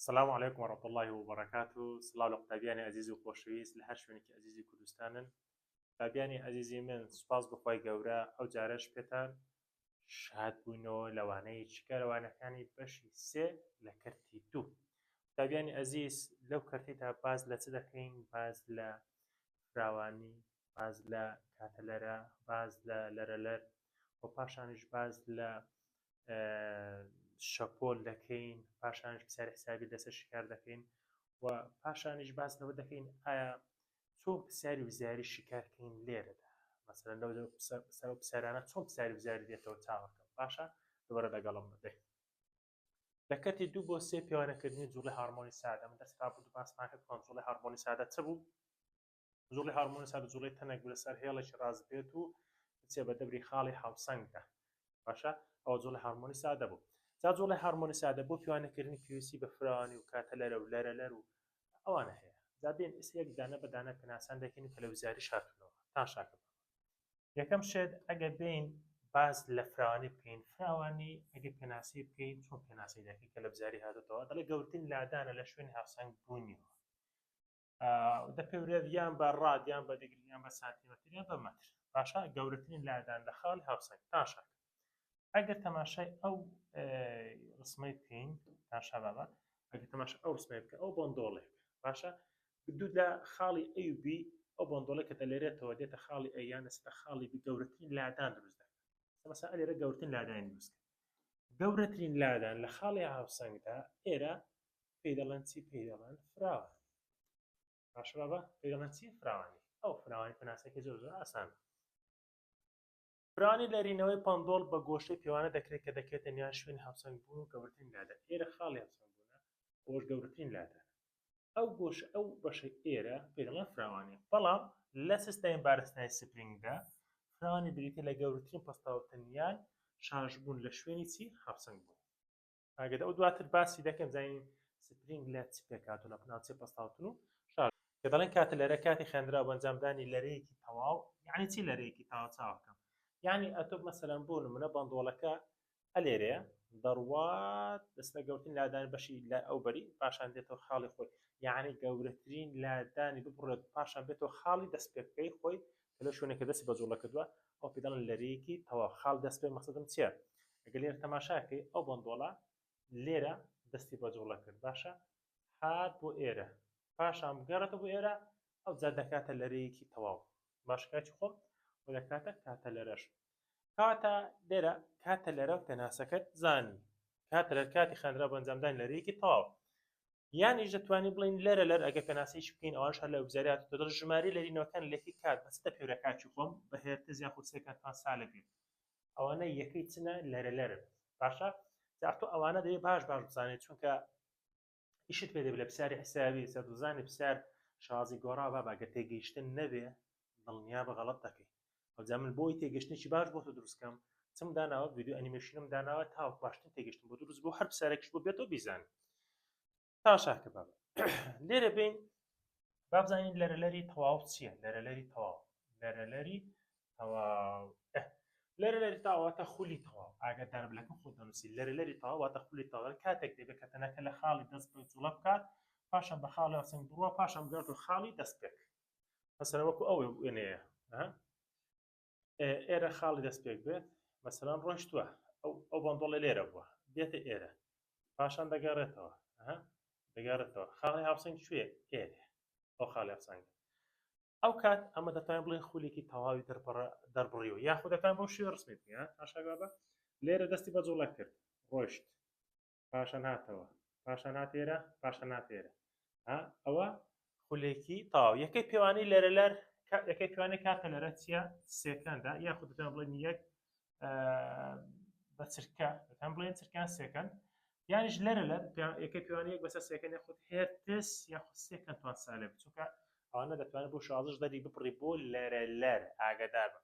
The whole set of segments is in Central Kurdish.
سلام علیکم و رحمت الله و بەرەکات و سلااو لە قوتابیانی ئازیز و خۆشەویست لە هەر شوێنێکی ئازیزی کوردستانن قوتابیانی ئازیزی من سوپاس بخوای گەورە ئەو جارش پێتان شاد بووینەوە لەوانەیە چیکارەوانەکانی بەشی سێ لە کەرتی دوو قوتابیانی ئازیز لەو کەرتیدا باز لە چ دەکەین باز لە فراوانی باز لە کاتەلەرە، باز لە لەرەلەر و پاشانیش باز لە شەپۆل دەکەین، پاشانیش پرسیاری حسابی لەسەر شیکار دەکەین و پاشانیش باز لەوە دەکەین ئایا چۆن پرسیاری وزاری شیکارکەین لێرەدا مەسەرەن لەو پرسیارانە چۆن پرسیاری وزاری دێتەوە چاوەکەم باشە دوبارە دەگەڵم بدەین لە کەتی دوو بۆ سێ پێوانەکردنی جوڵی هارمۆنی سادە من دەست رابوو باسمان کرد کۆنترۆڵی هارمۆنی سادە چ بوو جوڵی هارمۆنسا بە جوڵی تەنێک بلە سەر هێڵێکی ڕاز بێت و بچێ بە دەبری خاڵی هاوسەنگدا باشە ئەو جوڵی هارمۆنی سادە بوو جا جوڵی هارمۆنی سادە بۆ پیوانەکردنی پێویستی بە فراوانی و کاتە لەرە و لەرە لەر و ئەوانە هەیە جا بێن ئیسەیەک دانە بەدانە پێناسان دەکەین کە لە وزاری شاتونەوە تا شاکە یەکەم شێت ئەگە بین باز لە فراوانی بکەین فراوانی ئەگە پێناسی بکەین چۆن پێناسی دەکەین کە لە بزاری هاتێتەوە دەڵێ گەورترین لادانە لە شوێنی هاوسەنگ بوونیەوە دەپێورێت یان بە ڕاد یان بە دیگری یان بە سانتیمەتر یان بە مەتر باشە گەورەترین لادان لە خاڵی هاوسەنگ تاشە ئەگەر تەماشای ئەو ڕسمەی بکەین تاشا بابە ئەگەر تەماش ئەو ڕسمەی بکە ئەو بۆندۆڵێک باشە دو لە خاڵی ئەوB ئەو بۆندۆڵێک کە دەلێرێتەوە دێتە خاڵی ئەیان لەستا خاڵی بگەورەترین لادان دروست دەکات مەسا لێرە گەورتن لادانی دروست گەورەترین لادان لە خاڵی هاوسەنگدا ئێرە پێی دەڵێن چی پێی دەڵێن فراوان باشە بابا پێی دەڵێن چی فراوانی ئەو فراوانی پێناسەکە زۆر زۆر ئاسان فرانی لەرینەوەی پندۆڵ بە گۆشەی پێوانە دەکرێت کە دەکرێتە نیان شوێن هاوسەنگ بوون و گەورترین لادە ئێرە خاڵی هاوسەنگ بوونە بۆش گەورترین لادە ئەو گۆش ئەو بەشە ئێرە پێدەڵە فراوانی بەڵام لە سستای بارستای سپرینگدا فراوانی بریتە لە گەورترین پستاوتنیان شارژبوون لە شوێنی چی هاوسەنگ بوون ئاگەدا ئەو دواتر باسی دەکەم زانین سپرینگ لە چ پێکات و لە پناچێ پستاوتن و شار کە دەڵێن کاتە لەرە کاتی خوێندرا بۆ ئەنجامدانی لەرەیەکی تەواو یعنی چی لەرەیەکی تاوا چاوەکەم یعنی ئەتۆ مەسەلەن بۆ نمونە بەندۆڵەکە ئەلێرەیە دەڕوات دەستە گەوتن لادان بەشی لە ئەو بەری پاشان دێتەوە خاڵی خۆی یعنی گەورەترین لادانی ببڕێت پاشان بێتەوە خاڵی دەست پێ بکەی خۆی کە لەو شوێنێکە دەستی بە جوڵە کردووە ئەو پێ دەڵێن لەرەیەکی تەواو خاڵ دەست پێ مەقسەدم چییە ئەگەر لێرە تەماشاکەی ئەو بەندۆڵە لێرە دەستی بە جوڵە کرد باشە هات بۆ ئێرە پاشان بگەڕێتەوە بۆ ئێرە ئەو جا دەکاتە لەرەیەکی تەواو باشکاتی خۆم و دەکاتە کاتە لەرەش کەواتە لێرە کاتە لەرە و پێناسەکەت زانی کاتە لەر کاتی خاندرا بۆ ئەنجامدانی لەرەیەکی تەواو یانیش دەتوانین بڵین لەرە لەر ئەگە پێناسەیش بکەین ئەوان شار لە ئەوزاریات و دەڵ ژماری لەرینەوەکان لەکی کات بەس دە پێورە کاتی خۆم بە هێرتز یاخو سێکەند پان سالە بێت ئەوانە یەکەی چنە لەرە لەرن باشە جاء تۆ ئەوانە دەیە باش باش بزانێت چونکە ئیشت پێ دەبێت لە پرسیاری حسابی سەر دوزانانی پرسیار شازی گۆڕا با باگە تێگەیشتن نەبێ دڵنیا بە غەڵت دەکەی ئەوجا من بۆی تێگەشتێکی باش بۆ تۆ دروستکەم چم داناوە ویددیو ئەنیمەشینم داناوە تاوەک باشتن تێگەشتن بۆ دروست بۆ هەر پرسیارێکش بۆ بێتەوە بیزانین تا شاکە باب لێرە بین بابزانین لەرەلەری تەواو چییە لەرەلەری تەواو لەرەلەری لەرە لەری تاواتە خولی تەواو ئاگە دەربلەکە خۆ دەنووسی لەرە لەری تاواتە خولی تەواو کاتێک دەبێت کە تەنەکە لە خاڵی دەست بە جوڵە بکات پاشان بە خاڵی ئەسنگ بڕوە پاشان بگات و خاڵی دەست پێک مەسەرە وەکو ئەو وێنەیە ئێرە خاڵی دەست پێک بێت مەسەران ڕۆشتووە ئەو ئەو بەندۆڵە لێرە بووە دێتە ئێرە پاشان دەگەڕێتەوە دەگەڕێتەوە خاڵی هاوسنگ شوێ ئێرە ئەو خاڵی ئەفسانیدە ئەو کات ئەمە دەتوانین بڵێن خولێکی تەواوی دەربڕیەوە یاخود دەتوان بۆ شێ ڕسمێت تاشاگابە لێرە دەستی بە جوڵە کرد ڕۆشت پاشان هاتەوە پاشان هاتێرە پاشان هاتێرە ئەوە خولێکی تاو یەکەی پێوانی لەرە لەر یەکەی پێوانی کاتە لەرە چیە سێکەندە یاخود دەتوان بڵێن یەک بە چرکە هەم بڵێن چرکان سێکەن یانیش لەرە لە یەکە پێوانی یەک بەسە سێکەن یاخود هێرتس یاخود سێکەن توان سالێ بچووکە ئەوانە دەتوانێت بۆ شازش دەری بپڕی بۆ لەرە لەر ئاگدار بن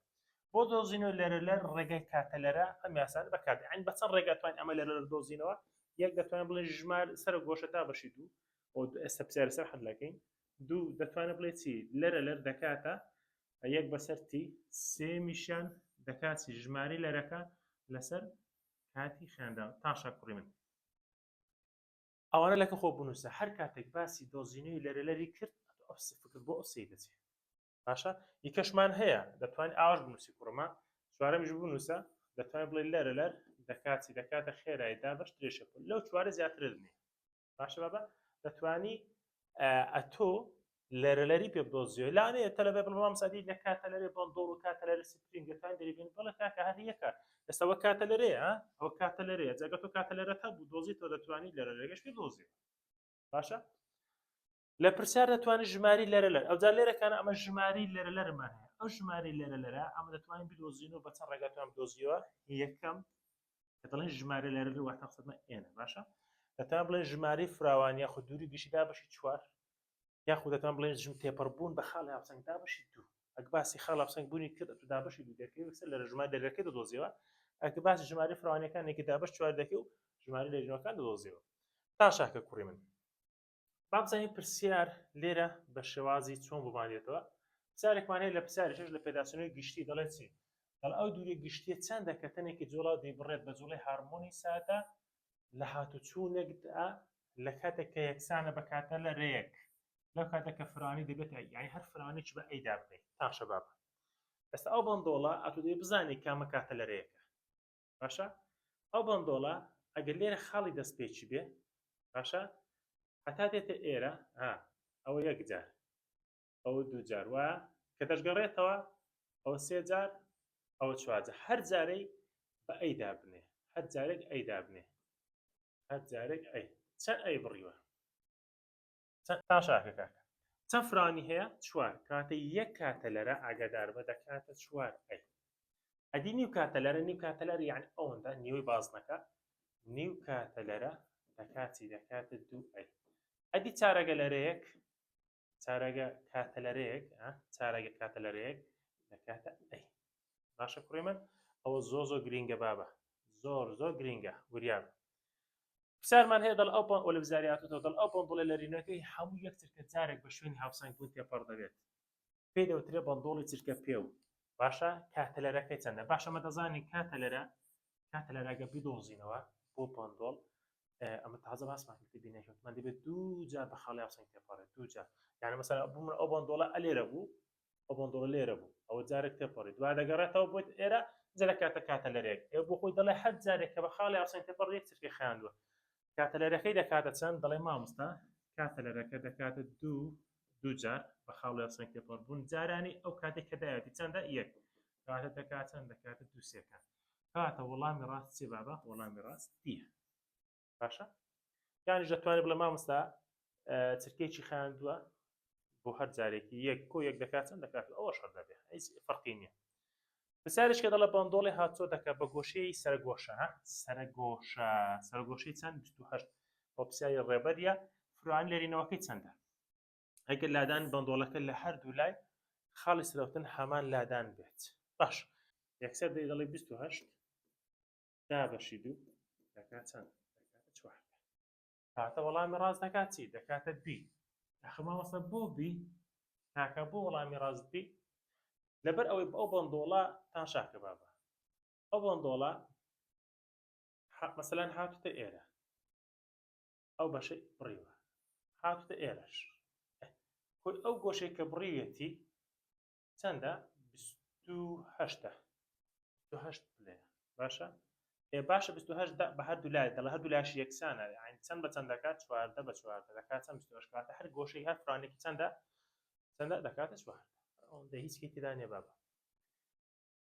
بۆ دۆزینەوە لەرە لەر ڕێگەی کاتە لەرە ئەم یاسان بەکات ئەین بە چەند ڕێگاتوان ئەمە لەرە دۆزینەوە یەک دەتوانین بڵێ ژمار سەر گۆشە تا بەشی دوو ئێستا پرسیارە سەر حەلەکەین دوو دەتوانێت بڵێ چی لەرە لەر دەکاتە یەک بەسەر تی سێمیشیان دەکاتی ژماری لەرەکە لەسەر کاتی خوێندا تاشا کوڕی من ئەوانە لەکە خۆ بنووسە هەر کاتێک باسی دۆزینەوەی لەرەلەری کرد فکر بۆ ئەوسی دەچێت باشە یکەشمان هەیە دەتوانین ئاش بنووسی کوڕمە چوارەمیش بنووسە دەتوانین بڵێ لەرە لەر دەکاتی دەکاتە خێرایدا بەش درێژە لەو چوارە زیاترت نیە باشە بابە دەتوانی ئەتۆ لەرەلەری پێ بدۆزیۆی لاێ تەلەبێ بڵام سادی لە کاتە لەێ بندۆڵ و کاتە لەرە سپرینگەکان دەریبین بڵە کاکە هەر یەکە ئێستەوە کاتە لەرێ ئەو کاتە لەرێ جگە تۆ کاتە لەرەکە بوو دۆزی تۆ دەتوانانی لەرەلەگەش پێ دۆزی باشە لە پرسیار دەتوانانی ژماری لەرە لەر ئەوجار لێرەکان ئەمە ژماری لەرە لەرمان هەیە ئەو ژماری لەرە لەرە ئەمە دەتوانین بدۆزین و بەچە ڕێگاتوان دۆزیەوە یەکەم کە دەڵێن ژماری لەرە لە واتە قسەمە ئێنە باشە دەتان بڵێن ژماری فراوان یاخود دووری گشتدا بەشی چوار یاخود دەتان بڵێن ژم تێپەڕ بوون بە خاڵی هاوسەنگدا بەشی دوو ئەک باسی خاڵ هاوسەنگ بوونی کرد ئەتو دابەشی دوو دەکەی وسە لە ژمار دەرەکەی دەدۆزیەوە ئەک باسی ژماری فراوانەکانێکی دابش چوار دەکەی و ژماری لە ژنەکان دەدۆزیەوە تاشاکە کوڕی من با بزانین پرسیار لێرە بە شێوازی چۆن بۆمان دێتەوە پرسیارێکمان هەیە لە پرسیارێکش لە پێداسنەوەی گشتی دەڵێت چی دەڵ ئەو دووری گشتیە چەندە کە تەنێکی جوڵا دەیبڕێت بە جوڵی هارمۆنی سادە لە هاتوچوونێکدا لە کاتێک کە یەکسانە بە کاتە لە رەیەک لەو کاتە کە فرانی دەبێت یعنی هەر فرانێک بە ئەیدا بکەیت تا شەبابە ئێستا ئەو بەندۆڵە ئەتو دەی بزانێت کامە کاتە لە رەیەکە باشە ئەو بەندۆڵە ئەگەر لێرە خاڵی دەست پێچی بێ باشە هەتا دێتە ئێرە ها ئەوە یەکجار ئەوە دووجار وە کە دەشگەڕێتەوە ئەو سێ جار ئەوە چوارجە هەر جارەی بە ئەی دابنێ هەر جارێک ئەی دابنێ هەر جارێک ئەی چەند ئەی بڕیوە تاشاکە کاکە چەند فرانی هەیە چوار کاتە یەک کاتەلەرە ئاگادار بە دەکاتە چوار ئەی ئەدی نیو کاتەلەرە نیو کاتەلەر یعنی ئەوەندە نیوەی بازنەکە نیو کاتەلەرە دەکاتی دەکاتە دوو ئەی ئەدی چارەگە لەرەیەک چارەگە کاتەلەرەیەک چارەگە کاتەلەرەیەک دەکاتە ئەی باشە کوڕی من ئەوە زۆ زۆ گرینگە بابە زۆر زۆر گرینگە وریاب پرسیارمان هەیە دەڵ ئەو پەن ئۆلڤزاری هاتۆتەوە دەڵ ئەو پەنتۆڵە لەرینەکەی هەموو یەک چرکە جارێک بە شوێنی هاوسەنگ بوون تێپەڕ دەبێت پێی دەوترێ بەندۆڵی چرکە پێو باشە کاتەلەرەکەی چەندە باشە مە دەزانین کاتەلەرە کاتەلەرەگە بدۆزینەوە بۆ پەندۆڵ ئەمە تازە باسمان کرد بینەکەوتمان دەبێت دوو جار بە خاڵی هاوسەنگ تێپەڕێت دوو جار یعنی مەسەلا بوومە ئەو بەندۆڵە ئەلێرە بوو ئەو بەندۆڵە لێرە بوو ئەوە جارێک تێپەڕی دوا دەگەڕێتەوە بۆ ئێرە جا لە کاتە کاتەلەرێک ئێ بۆ خۆی دەڵێ هەر جارێک کە بە خاڵی ئاسن تێپەڕ یەک چرکەی خایاندووە کاتەلەرەکەی دەکاتە چەند دەڵێ مامۆستا کاتەلەرەکە دەکاتە دوو دوو جار بە خاڵی ئاسن تێپەڕ بوون جارانی ئەو کاتێک کە دایەتی چەندە یەک کاتە دەکات چەند دەکاتە دووسێکان کاتە وەڵامی ڕاست چێ بابە وەڵامی ڕاست دیە باشە یانیش دەتوانێت بڵێ مامۆستا چرکەیەکی خاندووە بۆ هەر جارێکی یەک کۆ یەک دەکات چەند دەکات ئەوە شەر دەبێت هیچ فەرقی نییە پرسیارش کە دەڵە بەندۆڵی هاتۆ دەکە بە گۆشەی سەرگۆشە سەرگۆشە سەرگۆشەی چەند 28 بۆ پرسیاری ڕێبەریە فران لێرینەوەکەی چەندە ئەگەر لادان بەندۆڵەکە لە هەردوو لای خاڵی سرەوتن هەمان لادان بێت باش یەکسەر دەی دەڵی 28 دا بەشی دوو دەکات چەند دەکاتە چوار کاتە وەڵامی ڕاست دەکات چی دەکاتە بی یاخە مامۆستا بۆ بی تاکە بۆ وەڵامی ڕاست بی لەبەر ئەوەی ئەو بەندۆڵە تا شاکە بابە ئەو بەندۆڵە مەسەلەن هاتوتە ئێرە ئەو بەشە بڕیوە هاتوتە ئێرەش کۆی ئەو گۆشەی کە بڕیوێتی چەندە بیست و هەشتە بیست و هەشت پلەیە باشە ئێ باشە بیست و هەشت دە بە هەردوو لای دەڵە هەردوو لاشی یەکسانە یانی چەند بە چەند دەکات چواردە بە چواردە دەکات چەند بیست و هەشت کاتە هەر گۆشەی هەر فرانێکی چەندە چەندە دەکاتە چواردە ئەوەندە هیچ هی تێدا نیە بابە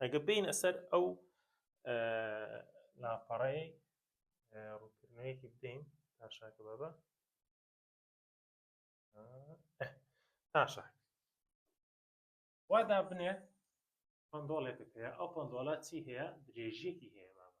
ئەگە بینە سەر ئەو لاپەڕەیە ڕووکردنەوەیەکی بدەین تاشاکە بابە تاشاک وادا بنێ پندۆڵێکت هەیە ئەو پندۆڵە چی هەیە درێژیەکی هەیە بابە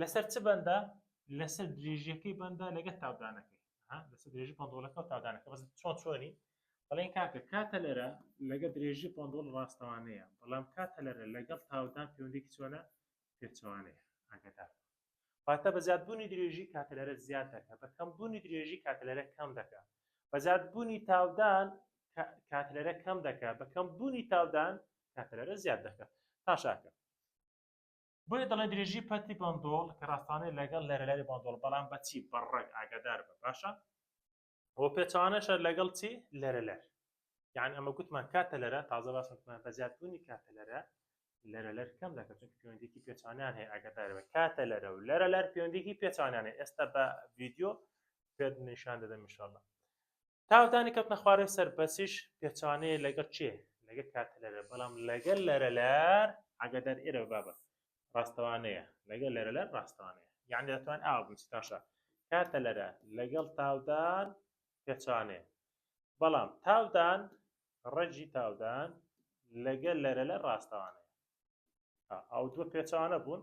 لەسەر چ بەندە لەسەر درێژیەکەی بەندە لەگەت تاودانەکەی لەسەر درێژی پندۆڵەکە و تاودانەکە بەس چۆن چۆنی بەڵێن کاکە کاتە لەرە لەگە درێژی پندۆڵ ڕاستەوانەیە بەڵام کاتە لەرە لەگەڵ تاودان پەیوەندێکی چۆنە پێچوانەیە ئاگدار واتە بە زیادبوونی درێژی کاتە لەرە زیاد دەکە بە کەم بوونی درێژی کاتە لەرە کەم دەکە بە زیادبوونی تاودان کاتە لەرە کەم دەکە بە کەم بوونی تاودان کاتە لەرە زیاد دەکە تاشاکە بۆیە دەڵێ درێژی پەتی بەندۆڵ کە ڕاستانەیە لەگەڵ لەرەلاری بەندۆڵ بەڵام بە چی بە ڕەگ ئاگادار بە باشە بۆ پێچوانەشە لەگەڵ چی لەرەلەر یان ئەمە گوتمان کاتە لەرە تازە باسمان بە زیادبوونی کاتە لەرە لەرە لەر کەم دەکە چون پەیوەندێکی پێچانیان هەیە ئەگەدار بە کاتە لەرە و لەرە لەر پەیوەندێکی پێچانیانە ئێستا بە ڤیددیو پێت نیشان دەدەم میشله تاوتانی کەوتنە خوارەوەی سەر بەسیش پێچوانەیە لەگەڵ چێ لەگە کاتلەرە بەڵام لەگەل لەرە لەر ئەگەدەر ئێرە بابە ڕاستەوانەیە لەگەل لەرە لەر ڕاستەوانەیە یعنی دەتوان ئاو بنسیتاشە کاتە لەرە لەگەڵ تاودان پێچوانێ بەڵام تاودان ڕێژی تاودان لەگەل لەرە لە ڕاستەوانەیە ئەو دووە پێچوانە بوون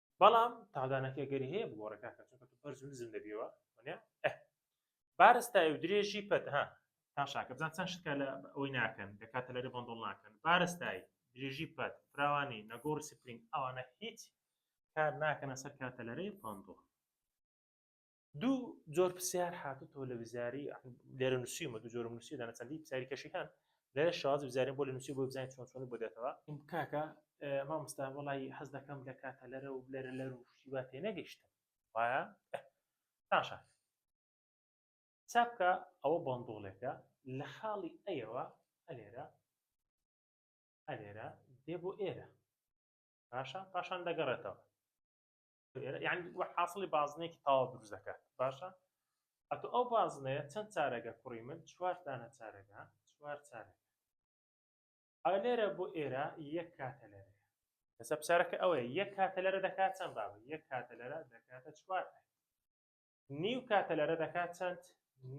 بەڵام تادانەکە گەری هەیە بگۆڕێ کاکە چونکە تو بەرز و نزم دەبیەوە وانە ئه بارز تایە و درێژی پەت ها تا شاکە بزان چەند شتکە لە ئەوەی ناکەن لە کاتە لەرێ بەندڵ ناکەن بارز تایی درێژی پەت فراوانی نەگۆڕ سپرینگ ئەوانە هیچ کار ناکەنە سەر کاتە لەرێ بەندڵ دوو جۆر پرسیار هاتوتەوە لە وزاری لێرە نووسیمە دوو جۆرم نووسی دانە چەندی پرسیاری کەشەکان لە شاز وزارین بۆ لە نووسی بۆ بزانین چۆن چۆن بۆ دێتەوە کاکە مامۆستا وڵی حەز دەکەم لە کاتە لەرە و لەرە لەر و شیوا تێ نەگەیشتم وایە تاشا چاپکە ئەوە بەندۆڵێکە لە خاڵی ئەیەوە ئەلێرە ئەلێرە دێ بۆ ئێرە باشە پاشان دەگەڕێتەوە یعنی وە حاصلی بازنێکی تاوا دروست دەکات باشە ئەتو ئەو بازنەیە چەند چارەگە کوڕی من چوار دانە چارەگە چوار چارەگە ئا لێرە بۆ ئێرە یەک کاتە لەرە لەسەر پسارەکە ئەوەیە یەک کاتە لەرە دەکات چەند بابە یەک کاتە لەرە دەکاتە چوار نیو کاتە لەرە دەکات چەند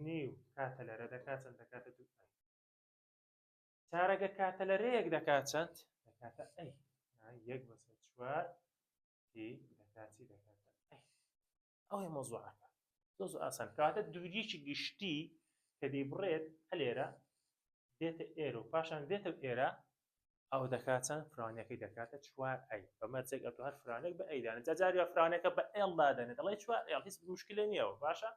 نیو کاتە لەرە دەکات چەند دەکاتە دوو چارەگە کاتە لەرەیەک دەکات چەند دەکاتە ئەی یەک بەسەر چوار تی دەکات چی دەکات ئەوەیە مەزوعەکە زۆر زۆر ئاسان کەواتە دووریەکی گشتی کە دەیبڕێت هەلێرە دێتە ئێر و پاشان دێتە ئێرە ئەو دەکات چەند فرانەکەی دەکاتە چوار ئەی بەمەرجێک ئەتو هەر فرانێک بە ئەیدانە جاجاری فرانەکە بە ئێڵدادەنێت دەڵی چوار ئێڵ هیچ مشکلە نییەوە باشە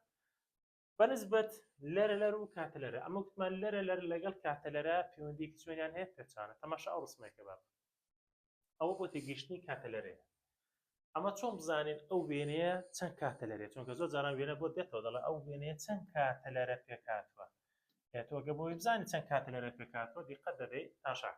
بە نسبەت لەرەلەر و کاتەلەرە ئەمە وتمان لەرەلەر لەگەڵ کاتەلەرە پەیوەندیەکی چۆنیان هەیە پێچانە تەماشا ئەو ڕسمێکە با بکەین ئەوە بۆ تێگەیشتنی کاتەلەرەیە ئەمە چۆن بزانین ئەو وێنەیە چەند کاتە لەرێت چونکە زۆر جاران وێنە بۆ دێتەوە دەڵێ ئەو وێنەیە چەند کاتە لەرە پێکاتوە تۆگە بۆی بزانین چەند کاتە لەرە پێکاتوە دیقەت دەبێت تاشاک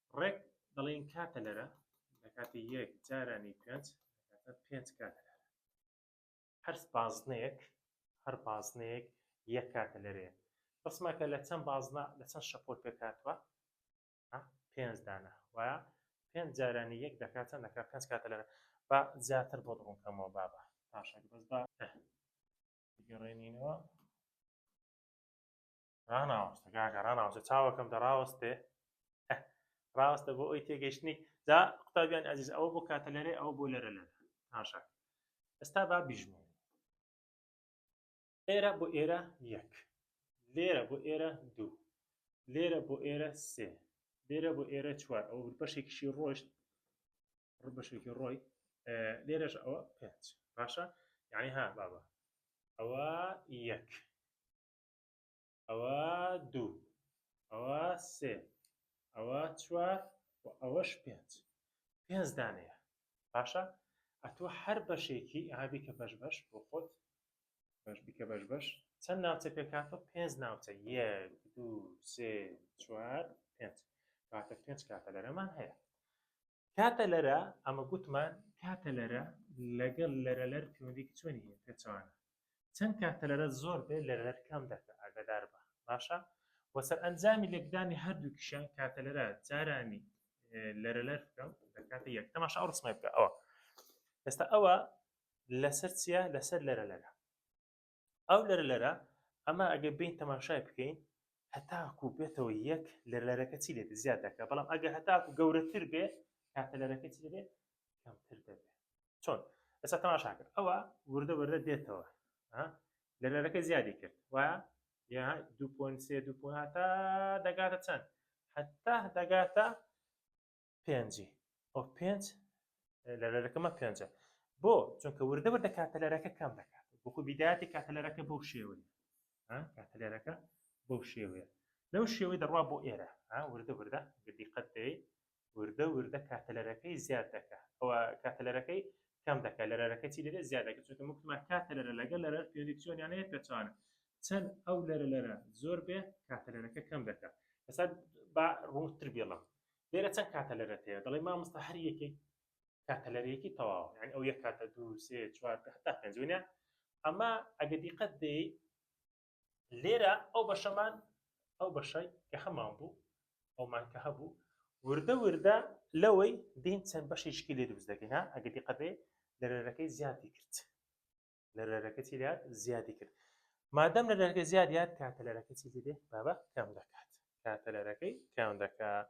ڕێک دەڵێین کاتەلەرە لە کاتی یەک جارانی پێنج دەکاتە پێنج کاتەلەرە. هەر بازنەیەک هەر بازنەیەک یەک کاتەلەرەیە. ڕەسمە کە لە چەند بازنە لە چەند شەپۆل پێک هاتووە؟ پێنج دانە. وایە؟ پێنج جارانی یەک دەکات چەند دەکات؟ پێنج کاتەلەرە. با زیاتر بۆت ڕوون کەمەوە بابە. باشە بەس با بگەڕێنینەوە. ڕناوەستە کاکە ڕناوەستە چاوەکەم دەڕاوەستێ ڕاستە بۆ ئەوی تێگەشتنی جا قوتابیان ئازیز ئەوە بۆ کاتە لەرێ ئەو بۆ لەرە لەرە ناشا ئێستا با بیژمێ ئێرە بۆ ئێرە یەک لێرە بۆ ئێرە دوو لێرە بۆ ئێرە سێ لێرە بۆ ئێرە چوار ئەو بەشێکیشی ڕۆشت بەشێکی ڕۆی لێرەش ئەوە پێنج باشە یعنی ها بابا ئەوە یەک ئەوە دوو ئەوە سێ ئەوە چوار و ئەوەش پێنج پێنج دانەیە باشە ئەتۆ هەر بەشێکی ئابی کە بەش بەش بۆ خۆت بەش بیکە بەش بەش چەند ناوچە پێکاتۆ پێنج ناوچە یەک دوو سێ چوار پێنج کاتە پێنج کاتە لەرەمان هەیە کاتە لەرە ئەمە گوتمان کاتە لەرە لەگەڵ لەرە لەر پەیوەندێکی چۆنی پێچوانە چەند کات تەلەرە زۆر بێت لە لەر کەم دەکە ئاگادار بە باشە وە سەرئەنجامی لێکدانی هەردووکیشیان کاتەلەرە جارانی لەرەلەر بکەم دەکاتە یەک تەماشا ئەو ڕسمای بکە ئەوە ئێستا ئەوە لەسەر چییە لەسەر لەرە لەرە ئەو لەرە لەرە ئەمە ئەگەر بین تەماشای بکەین هەتاکو بێتەوە یەک لە لەرەکە چی لێت زیاد دەکە بەڵام ئەگەر هەتاکو گەورەتر بێ کاتە لەرەکە چی لێ کەمتر دەبێت چۆن ئێستا تەماشا کرد ئەوە وردە وردە دێتەوە لەرەکە زیادی کرد وایە یا دو پۆن سێ دو پۆن هاتا دەگاتە چەند هەتا دەگاتە پێنجی ئەو پێنج لەرەکەمە پێنجە بۆ چونکە وردە وردە کاتەلەرەکە کەم دەکات بۆخۆ بیداتی کاتەلەرەکە بەو شێوەیە کاتەلەرەکە بەو شێوەیە لەو شێوەی دەڕوا بۆ ئێرە وردە وردە گردی قەت دەی وردە وردە کاتەلەرەکەی زیاد دەکا ئەوە کاتەلەرەکەی کەم دەکا لەرەرەکە چی دەبێت زیاد دەکە چونکە وتمان کاتەلەرە لەگەڵ لەرەر پێوەندی چۆنیان هەیە پێچەوانە چەند ئەو لەرە لەرە زۆر بێ کاتەلەرەکە کەم دەکا ئەسا با ڕوونتر بێڵم لێرە چەند کاتەلەرەت هەیە دەڵێ مامۆستا هەر یەکێک کاتەلەرەیەکی تەواو یعنی ئەو یەک کاتە دوو سێ چوار حتا پێنج وینە ئەمە ئەگە دیقەت دەی لێرە ئەو بەشەمان ئەو بەشەی کە هەمان بوو ئەومان کە هەبوو وردە وردە لەوەی دین چەند بەشێکی لێ دروست دەکەین ئەگە دیقەبێ لەرەرەکەی زیادی کرد لەرەرەکە چی لات زیادی کرد مادەم لە دەرگە زیاد یاد کاتە لەرەکە چی دێت بابە کەم دەکات کاتە لەرەکەی کەم دەکات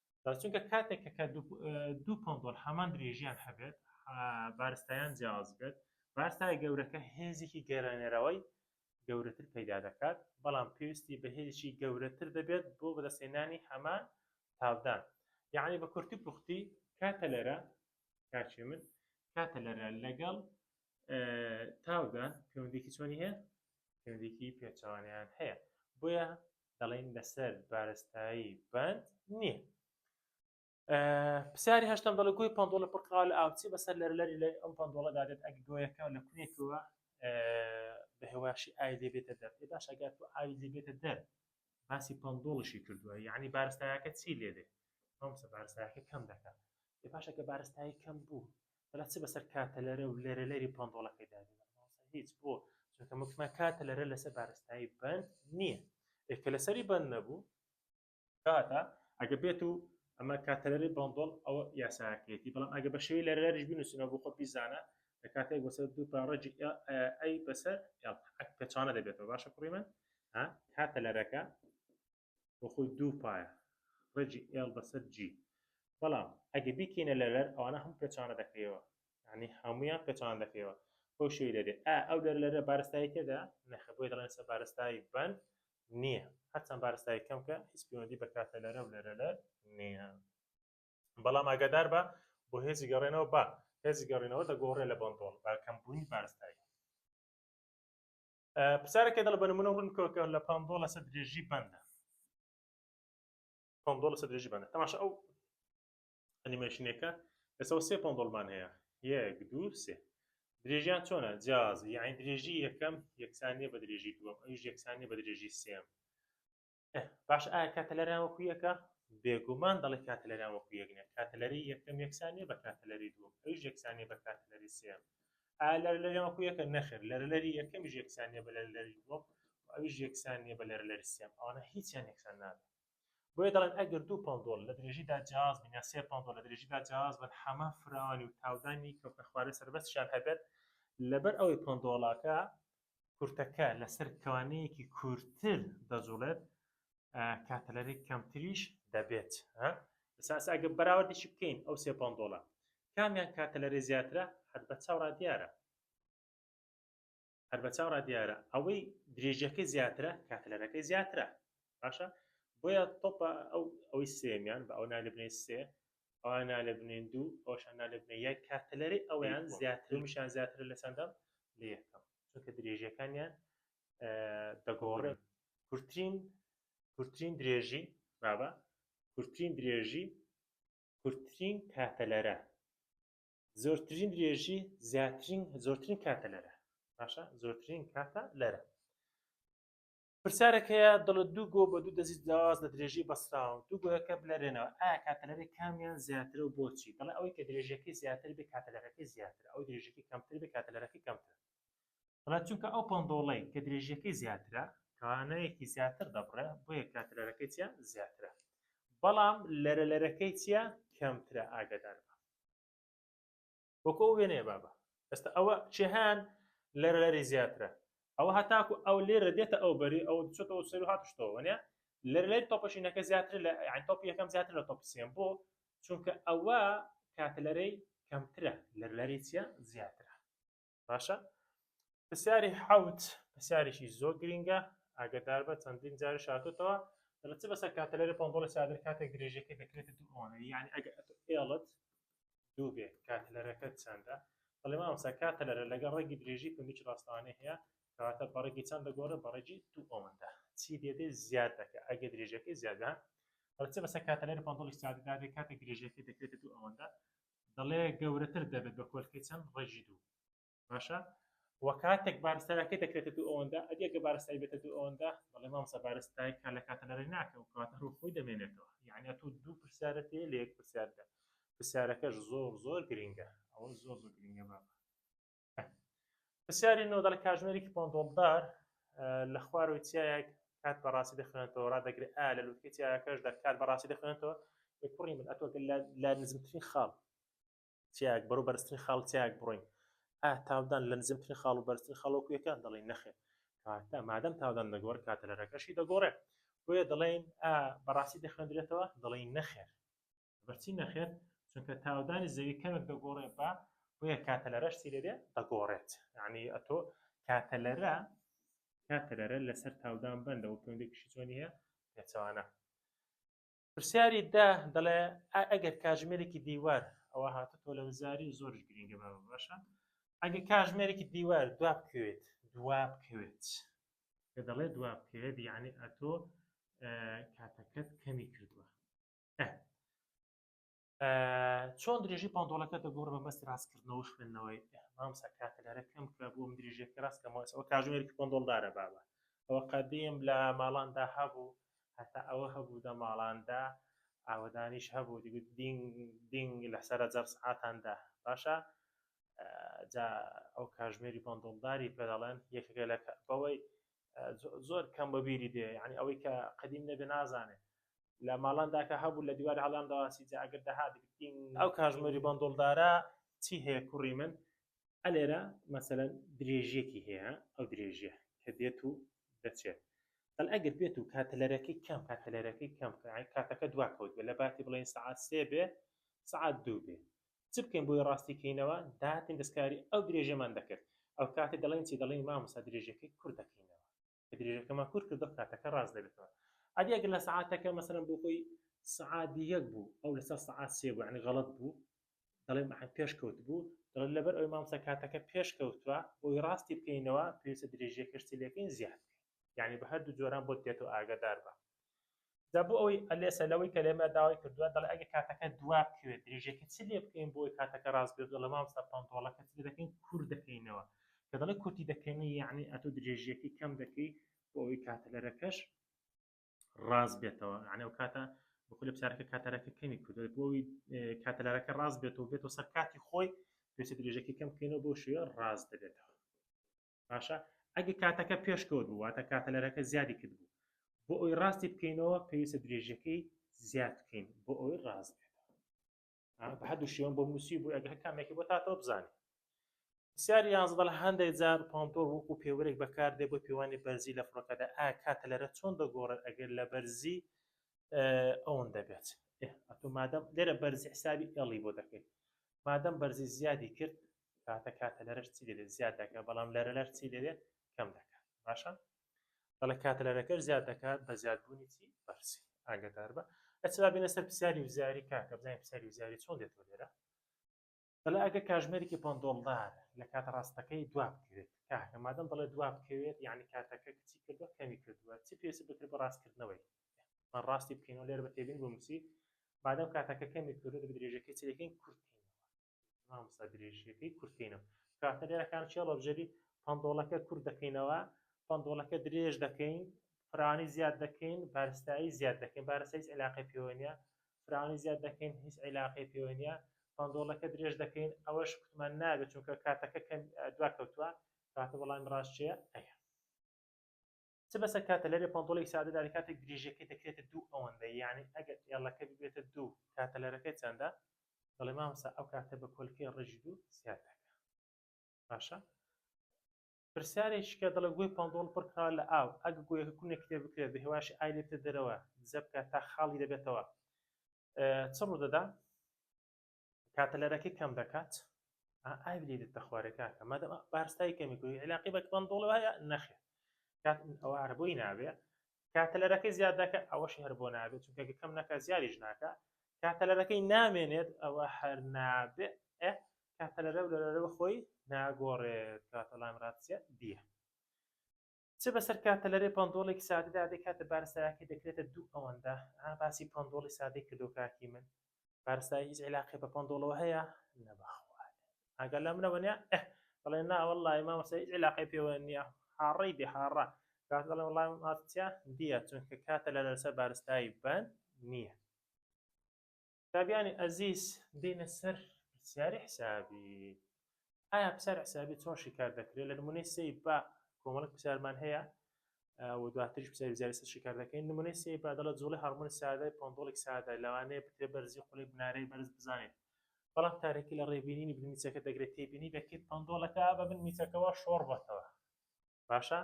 چونکە کاتێک کە دوو پۆندۆل هەمان درێژیان هەبێت بارستایان جیاواز بێت بارستای گەورەکە هێزێکی گەرانێرەوەی گەورەتر پەیدا دەکات بەڵام پێویستی بە هێزێکی گەورەتر دەبێت بۆ بەدەستێنانی هەمان تاودان یعنی بە کورتی پوختی کاتە لەرە کاچێ من کاتە لەرە لەگەڵ تاودان پەیوەندێکی چۆنی هەیە پەیوەندێکی پێچوانیان هەیە بۆیە دەڵێن لەسەر بارستایی بەند نییە پرسیاری هەشتم دەڵێ گوی پندۆڵە پڕکراوە لە ئاوچی بەسەر لەر لەری لە ئەم پندۆڵە دادێت ئەگ گۆیەکە لە کوێکەوە بە هێواشی ئای لێ بێتە دەر ئێ باش ئەگات و ئاوی لێ بێتە دەر باسی پندۆڵشی کردووە یعنی بارستایەکە چی لێ دێ ئەم سە بارستایەکە کەم دەکات ئێ باشەکە بارستایی کەم بوو بەڵا چ بەسەر کاتە لەرە و لەرە لەری پۆندۆڵەکەی دابێت هیچ بۆ چونکە مکمە کاتە لەرە لەسەر بارستایی بند نییە ئێکە لەسەری بند نەبوو کاتە ئەگە بێت و ئەمە کاتەلەری بۆندۆڵ ئەو یاساکەێتی بەڵام ئەگە بە شێوی لە رێریش بنووسینەوە بۆ خۆ پیزانە لە کاتێک بەسەر دوو پاڕێجی ئەی بەسەر پێچانە دەبێتەوە باشە کوڕی من کاتە لەرەکە بۆ خۆی دوو پایە ڕێجی ئێڵ بەسەر جی بەڵام ئەگە بیکەینە لەرەر ئەوانە هەم پێچانە دەکەیەوە ینی هەمویان پێچان دەکەیەوە بۆ شوی لەێ ئا ئەو لەر لەرە بارستایی تێدا نەخە بۆی دەڵێن سە بارستایی بند نییە هەرچەند بارستایی کەم کە هیچ پەیوەندی بە کاتە لەرە و لەرە لە نییە بەڵام ئاگادار بە بۆ هێزی گەڕێنەوە بە هێزی گەڕێنەوە دەگۆڕێ لە بەندۆڵ بە کەمبوونی بارستایی پرسیارەکەی دەڵێ بە نمونە ڕوون بکەوە کە لە پاندۆ لەسەر درێژی بەندە پاندۆ لەسەر درێژی بەندە تەماشا ئەو ئەنیمەیشنێکە لەسەوە سێ پاندۆڵمان هەیە یەک دوو سێ درێژیان چۆنە جیاز یعنی درێژی یەکەم یەکسانیە بە درێژی دووەم ئەوش یەکسانیە بە درێژی سێم باش ئایا کاتەلەران وەکو یەکە بێگومان دەڵێ کاتەلەران وەکو یەک نیە کاتەلەری یەکەم یەکسانیە بە کاتەلەری دووەم ئەویش یەکسانیە بە کاتەلەری سێم ئایا لەرلەری وەکو یەکە نەخێر لەرلەری یەکەمیش یەکسانیە بە لەرلەری دووەم ئەویش یەکسانیە بە لەرلەری سێم ئەوانە هیچیان یەکسان نابێت بۆیە دەڵێن ئەگەر دوو پەندۆڵ لە درێژیدا جیاز بن یا سێ پەندۆڵ لە درێژیدا جیاز بن حەمە فراوانی و تاودانی کەوتنە خوارێ سەربەستیان هەبێت لەبەر ئەوەی پەندۆڵاکە کورتەکە لەسەر کەوانەیەکی کورتتر دەجوڵێت کاتەلەرێک کەمتریش دەبێت ساس ئەگە بەراوردیشی بکەین ئەو سێ پندۆڵە کامیان کاتەلەرێ زیاترە هەر بە چاوڕا دیارە هەر بە چاوڕا دیارە ئەوەی درێژەکە زیاترە کاتەلەرەکەی زیاترە باشە بۆیە تۆپە ئەو ئەوی سێمیان بە ئەو نالبنێ سێ ئەوان نالێبنێن دوو ئەوشان نالێبنێ یەک کاتەلەرەی ئەویان زیاترمیشان زیاترە لە چەندەم لە یەکەم چونکە درێژەکانیان دەگۆڕێن کورتترین کورتترین درێژی بابە کورتترین درێژی کورتترین کاتەلەرە زۆرترین درێژی زیاترین زۆرترین کاتەلەرە باشە زۆرترین کاتە لەرە پرسیارێک هەیە دەڵێت دوو گۆ بە دوو دەزی جیاواز لە درێژەی بەسراوە دوو گۆیەکە بلەرێنەوە ئا کاتەلەرێک کامیان زیاترە و بۆچی دەڵێ ئەوەی کە درێژەکەی زیاتر بێ کاتەلەرەکەی زیاتر ئەو درێژەکەی کەمتر بێ کاتەلەرەکەی کەمتر دەڵێت چونکە ئەو پەندۆڵەی کە درێژەکەی زیاترە توانایەکی زیاتر دەبڕێ بۆیە کاتەلەرەکەی چیە زیاترە بەڵام لەرە لەرەکەی چیە کەمترە ئاگدار وەکو ئەو وێنەیە بابە ئێستا ئەوە چێهان لەرە لەری زیاترە ئەوە هەتاکو ئەو لێرە دێتە ئەو بەری ئەو چۆتەوە سەر هاتشتەوەە لەر لەری تۆپەشینەکە زیاتر لە تۆپی یەکەم زیاتر لە تۆپی سێم بۆ چونکە ئەوە کاتلەرەی کەمترە لەر لەری چە زیاترە باشە پرسیاری حوت پرسیارێکی زۆر گرینگە ئاگدار بە چەندین جار شاتوتەوە دەڵێت چ بەسەر کاتەلەری پۆندۆڵی سادر کاتێک درێژەکەی دەکرێت دووانە یعنی ئەگە ئێڵت دوو بێ کاتەلەرەکەت چەندە دەڵێ مامۆستا کاتەلەرە لەگەڵ ڕێگی درێژی پمیچ ڕاستەوانەی هەیە کەواتە بەڕێگی چەند دەگۆڕێ بەڕێگی دوو ئەوەندە چی دێدێ زیاد دەکە ئەگە درێژەکەی زیادە ئەوچە بەسە کاتەلەر پندڵی ساددادێ کاتێک درێژەکەی دەکرێتە دوو ئەوەندە دەڵێ گەورەتر دەبێت بە کۆلکەی چەند ڕێژی دوو باشە وە کاتێک بارستایەکەی دەکرێتە دوو ئەوەندە ئەگە بارستای بێتە دوو ئەوەندە بەڵێ مامسە بارستای کە لە کاتە لەڕێ ناکە و کاتە ڕوو خۆی دەمێنێتەوە یعنی تۆ دوو پرسیارەت هەیە لە یەک پرسیاردا پرسیارەکەش زۆر زۆر گرنگە ئەوە زۆر زۆر گرنگە بابە پرسیاری نۆ دەڵ کاژمێرێکی پۆندۆڵدار لە خوارەوەی چیایەک کات بەڕاستی دەخوێنێتەوە ڕدەگرێت ئا لە لوتکە چیایەکەشدا کات بەڕاستی دەخوێنێتەوە کوڕی من ئەتۆگە لە نزمترین خاڵ چیاک بەرەو بەرزترین خاڵ چیاک بڕۆین ئا تاودان لە نزمترین خاڵ و بەرزترین خاڵۆکو یەکە دەڵێن نەخێ کاتە مادەم تاودان دەگۆڕ کاتەلەرەکەشی دەگۆڕێ بۆیە دەڵێن ئا بەڕاستی دەخوێندرێتەوە دەڵێن نەخێر بەچی نەخێر چونکە تاودانی زەوی کەمێک دەگۆڕێ بە بۆیە کاتەلەرەش چی لێرێ دەگۆڕێت یعنی ئەتۆ کاتەلەرە کاتەلەرە لەسەر تاودان بەندەوە پێوەندێکیشی چۆنی هەیە پێچەوانە پرسیاری دە دەڵێ ئا ئەگەر کاژمێرێکی دیوار ئەوە هاتە تۆ لە وزاری و زۆرش گرینگە بە باشە ئەگە کاژمێرێکی دیوار دوا بکەوێت دوا بکەوێت کە دەڵێ دوا بکەوێت یعنی ئەتۆ کاتەکەت کەمی کردووە چۆن درێژی پانتۆڵەکە دەگۆڕ بە مەستی ڕاستکردنەوە خوێندنەوەی ئەمام سەکاتە لەرە کەم کرا بۆ من درێژێکی ڕاستکەمەوەەوە کاژمێرکی پندۆڵدارە بابە ئەوە قەدیم لە ماڵاندا هەبوو هەتا ئەوە هەبوو دە ماڵاندا ئاوەدانیش هەبوو دیگوت دینگ دینگ لەسرە جەر سعاتاندا باشە جا ئەو کاژمێری پندۆڵداری پێدەڵێن یەکەکە لە بەوەی زۆر کەم بە بیری دێ ینی ئەوەی کە قدیم نەبێ نازانێت لە ماڵانداکە هەبوو لە دیوار هەڵام داواسی جا ئەگەر دەهات گرتین ئەو کاژمەری بەندڵدارە چی هەیە کوڕی من ئەلێرە مەسەن درێژیەکی هەیە ئەو درێژە کە دێت و دەچێت بەل ئەگەر بێت و کاتەلەرەکەی کەم کاتەلەرەکەی کەم کاتەکە دواکەوت بێ لە باتی بڵێن سعات سێ بێ سعات دوو بێ چ بکەین بۆی ڕاستی کەینەوە داهاتین دەستکاری ئەو درێژەمان دەکرد ئەوکاتە دەڵێن چی دەڵێن مامۆستا درێژەکەی کورت دەکەینەوە کە درێژەکەمان کورت کردو کاتەکە ڕاست دەبێتەوە ئەدی ئەگەر لە سەعاتەکە مەسەلەن بۆ خۆی سەعات یەک بوو ئەو لەسەر سەعات سێ بوو یعنی غەڵەت بوو دەڵێن پێش کەوت بوو دەڵێن لەبەر ئەوی مامۆستا کاتەکە پێش کەوتووە بۆی ڕاستی بکەینەوە پێویستە درێژیەکەش چی لێکەین زیاد یعنی بە هەردوو جۆران بۆت دێتەوە ئاگادار بە جا بۆ ئەوەی ئەلێسە لەوەی کە لێمە داوای کردووە دەڵێ ئەگەر کاتەکە دوا بکەوێت درێژەکە چ لێ بکەین بۆی کاتەکە ڕاست بێت دەڵێ مامۆستا پەنتۆڵەکە چ دەکەین کورت دەکەینەوە کە دەڵێ کورتی دەکەین یعنی ئەتۆ درێژیەکەی کەم دەکەی بۆ ئەوەی کاتەلەرەکەش ڕاست بێتەوە یعنی ئەو کاتە بخلی بچارەکە کاتەرەکە کەمی کردوێت بۆی کاتەلارەکە ڕاست بێت و بێت و سەر کاتی خۆی پێچە درێژەکە کەم بکەینەوە بۆ شوێ ڕاست دەبێتەوە باشە ئەگە کاتەکە پێشکەوت بوو واتە کاتەلەرەکە زیادی کرد بوو بۆ ئەوی ڕاستی بکەینەوە پێویستە درێژەکەی زیاد بکەین بۆ ئەوی ڕاست بێت هەردوو شێوەن بۆ موسی بوو ئەگە کامێکی بۆ تاتەوە بزانێت پرسیاری یازدەڵ هەندێک جار پۆمپۆر وەکو پێوەرێک بەکاردێ بۆ پێوانی بەرزی لە فڕۆکەدا ئا کاتە لەرە چۆن دەگۆڕێت ئەگەر لە بەرزی ئەوەن دەبێت ئەتو مادەم لێرە بەرزی حسابی ئێڵی بۆ دەکەیت مادەم بەرزی زیادی کرد کاتە کاتە لەرەش چی دەبێت زیاد دەکە بەڵام لەرە لەر چی دەبێت کەم دەکات باشە دەڵێ کاتە لەرەکەش زیاد دەکات بە زیادبوونی چی بەرسی ئاگدار بە ئەچلا بینە سەر پرسیاری وزاری کاکە بزانین پرسیاری وزاری چۆن دێتەوە لێرە دەڵێ ئەگە کاژمێرێکی پندۆڵدار لە کاتە ڕاستەکەی دوا بکەوێت کاکە مادەم دەڵێ دوا بکەوێت یعنی کاتەکە کچی کردوە کەمی کردووە چی پێویست بکرێت بە ڕاستکردنەوەی من ڕاستی بکەینەوە لێر بە تێبین بۆ مسی مادەم کاتەکە کەمی کردو دەبێت درێژەکەی چ دەکەین کورتکەین مامۆستا درێژیەکەی کورتکەینەوە کاتە لێرەکان چێ ڕۆبژەری پندۆڵەکە کورت دەکەینەوە پندۆڵەکە درێژ دەکەین فرانی زیاد دەکەین بارستایی زیاد دەکەین بارستە هیچ علاقی پێوەنیە فرانی زیاد دەکەین هیچ علاقی پێوەنیە پندۆڵەکە درێژ دەکەین ئەوەش کوتمان نابێت چونکە کاتەکە کەم دوا کەوتووە کاتە بەڵام ڕاستچەیە ئەیە چ بەسە کاتە لەرێ پانتۆڵێک سادە داری کاتێک درێژەکەی دەکرێتە دوو ئەوەندە یعنی ئەگەر ئێڵەکە ببێتە دوو کاتە لەرەکەی چەندە دەڵێ مامسا ئەو کاتە بە کۆلکەی ڕێژی دوو زیاد دەکە باشە پرسیارێککە دەڵێ گوێی پندۆڵ پڕکراوە لە ئاو ئەگە گوێەکە کونێک لێ بکرێت بە هێواش ئای لێتە دەرەوە دزە بکات تا خاڵی دەبێتەوە چڕ دەدا کاتەلەرەکەی کەم دەکات ئاوی لێ دێتە خوارێ کاکە مادەم بارستای کەمی کوی علاقی بە کمان دۆڵ وایە نەخێ کات ئەوە هەر بۆی نابێ کاتەلەرەکەی زیاد دەکە ئەوەش هەر بۆ نابێت چونکە کەم نەکە زیادیش ناکە کاتەلەرەکەی نامێنێت ئەوە هەر نابێ کاتەلەرە لەرەوە خۆی ناگۆڕێت کاتەڵام راتسیە دیە چ بەسەر کاتەلەرێ پەندۆڵێکی سادەدا دەی کاتە بارستایەکەی دەکرێتە دوو ئەوەندە ها باسی پەندۆڵی سادەی کردۆ کاکی من بارستایی هیچ عیلاقی بە پەندۆڵەوە هەیە نەبەخوات ئاگەر لە منەوە نیە ئه دەڵێ ناوەڵی مامۆستا هیچ عیلاقی پێوە نیە هاڕەی بێ هاڕە کات دەڵێ وڵام ئاتیا دیە چونکە کاتە لە لەسەر بارستایی بند نییە قوتابیانی ئەزیز دێینە سەر پرسیاری حسابی ئایا پرسیار حسابی چۆن شیکار دەکرێت لە نمونەی سێی با کۆمەڵک پرسیارمان هەیە و دواتریش پرسیاری زیاری سەر شیکار دەکەین نمونەی سێی با دەڵە جوڵی هەرمۆنی سادە پۆندۆڵێک سادە لەوانەیە بترێ بەرزی خولێک بنارەی بەرز بزانێت بەڵام تارێکی لە ڕێبینینی بنمیچەکە دەگرێت تێبینی دەکرێت پندۆڵەکە بە بن میچەکەەوە شۆڕ بەتەوە باشە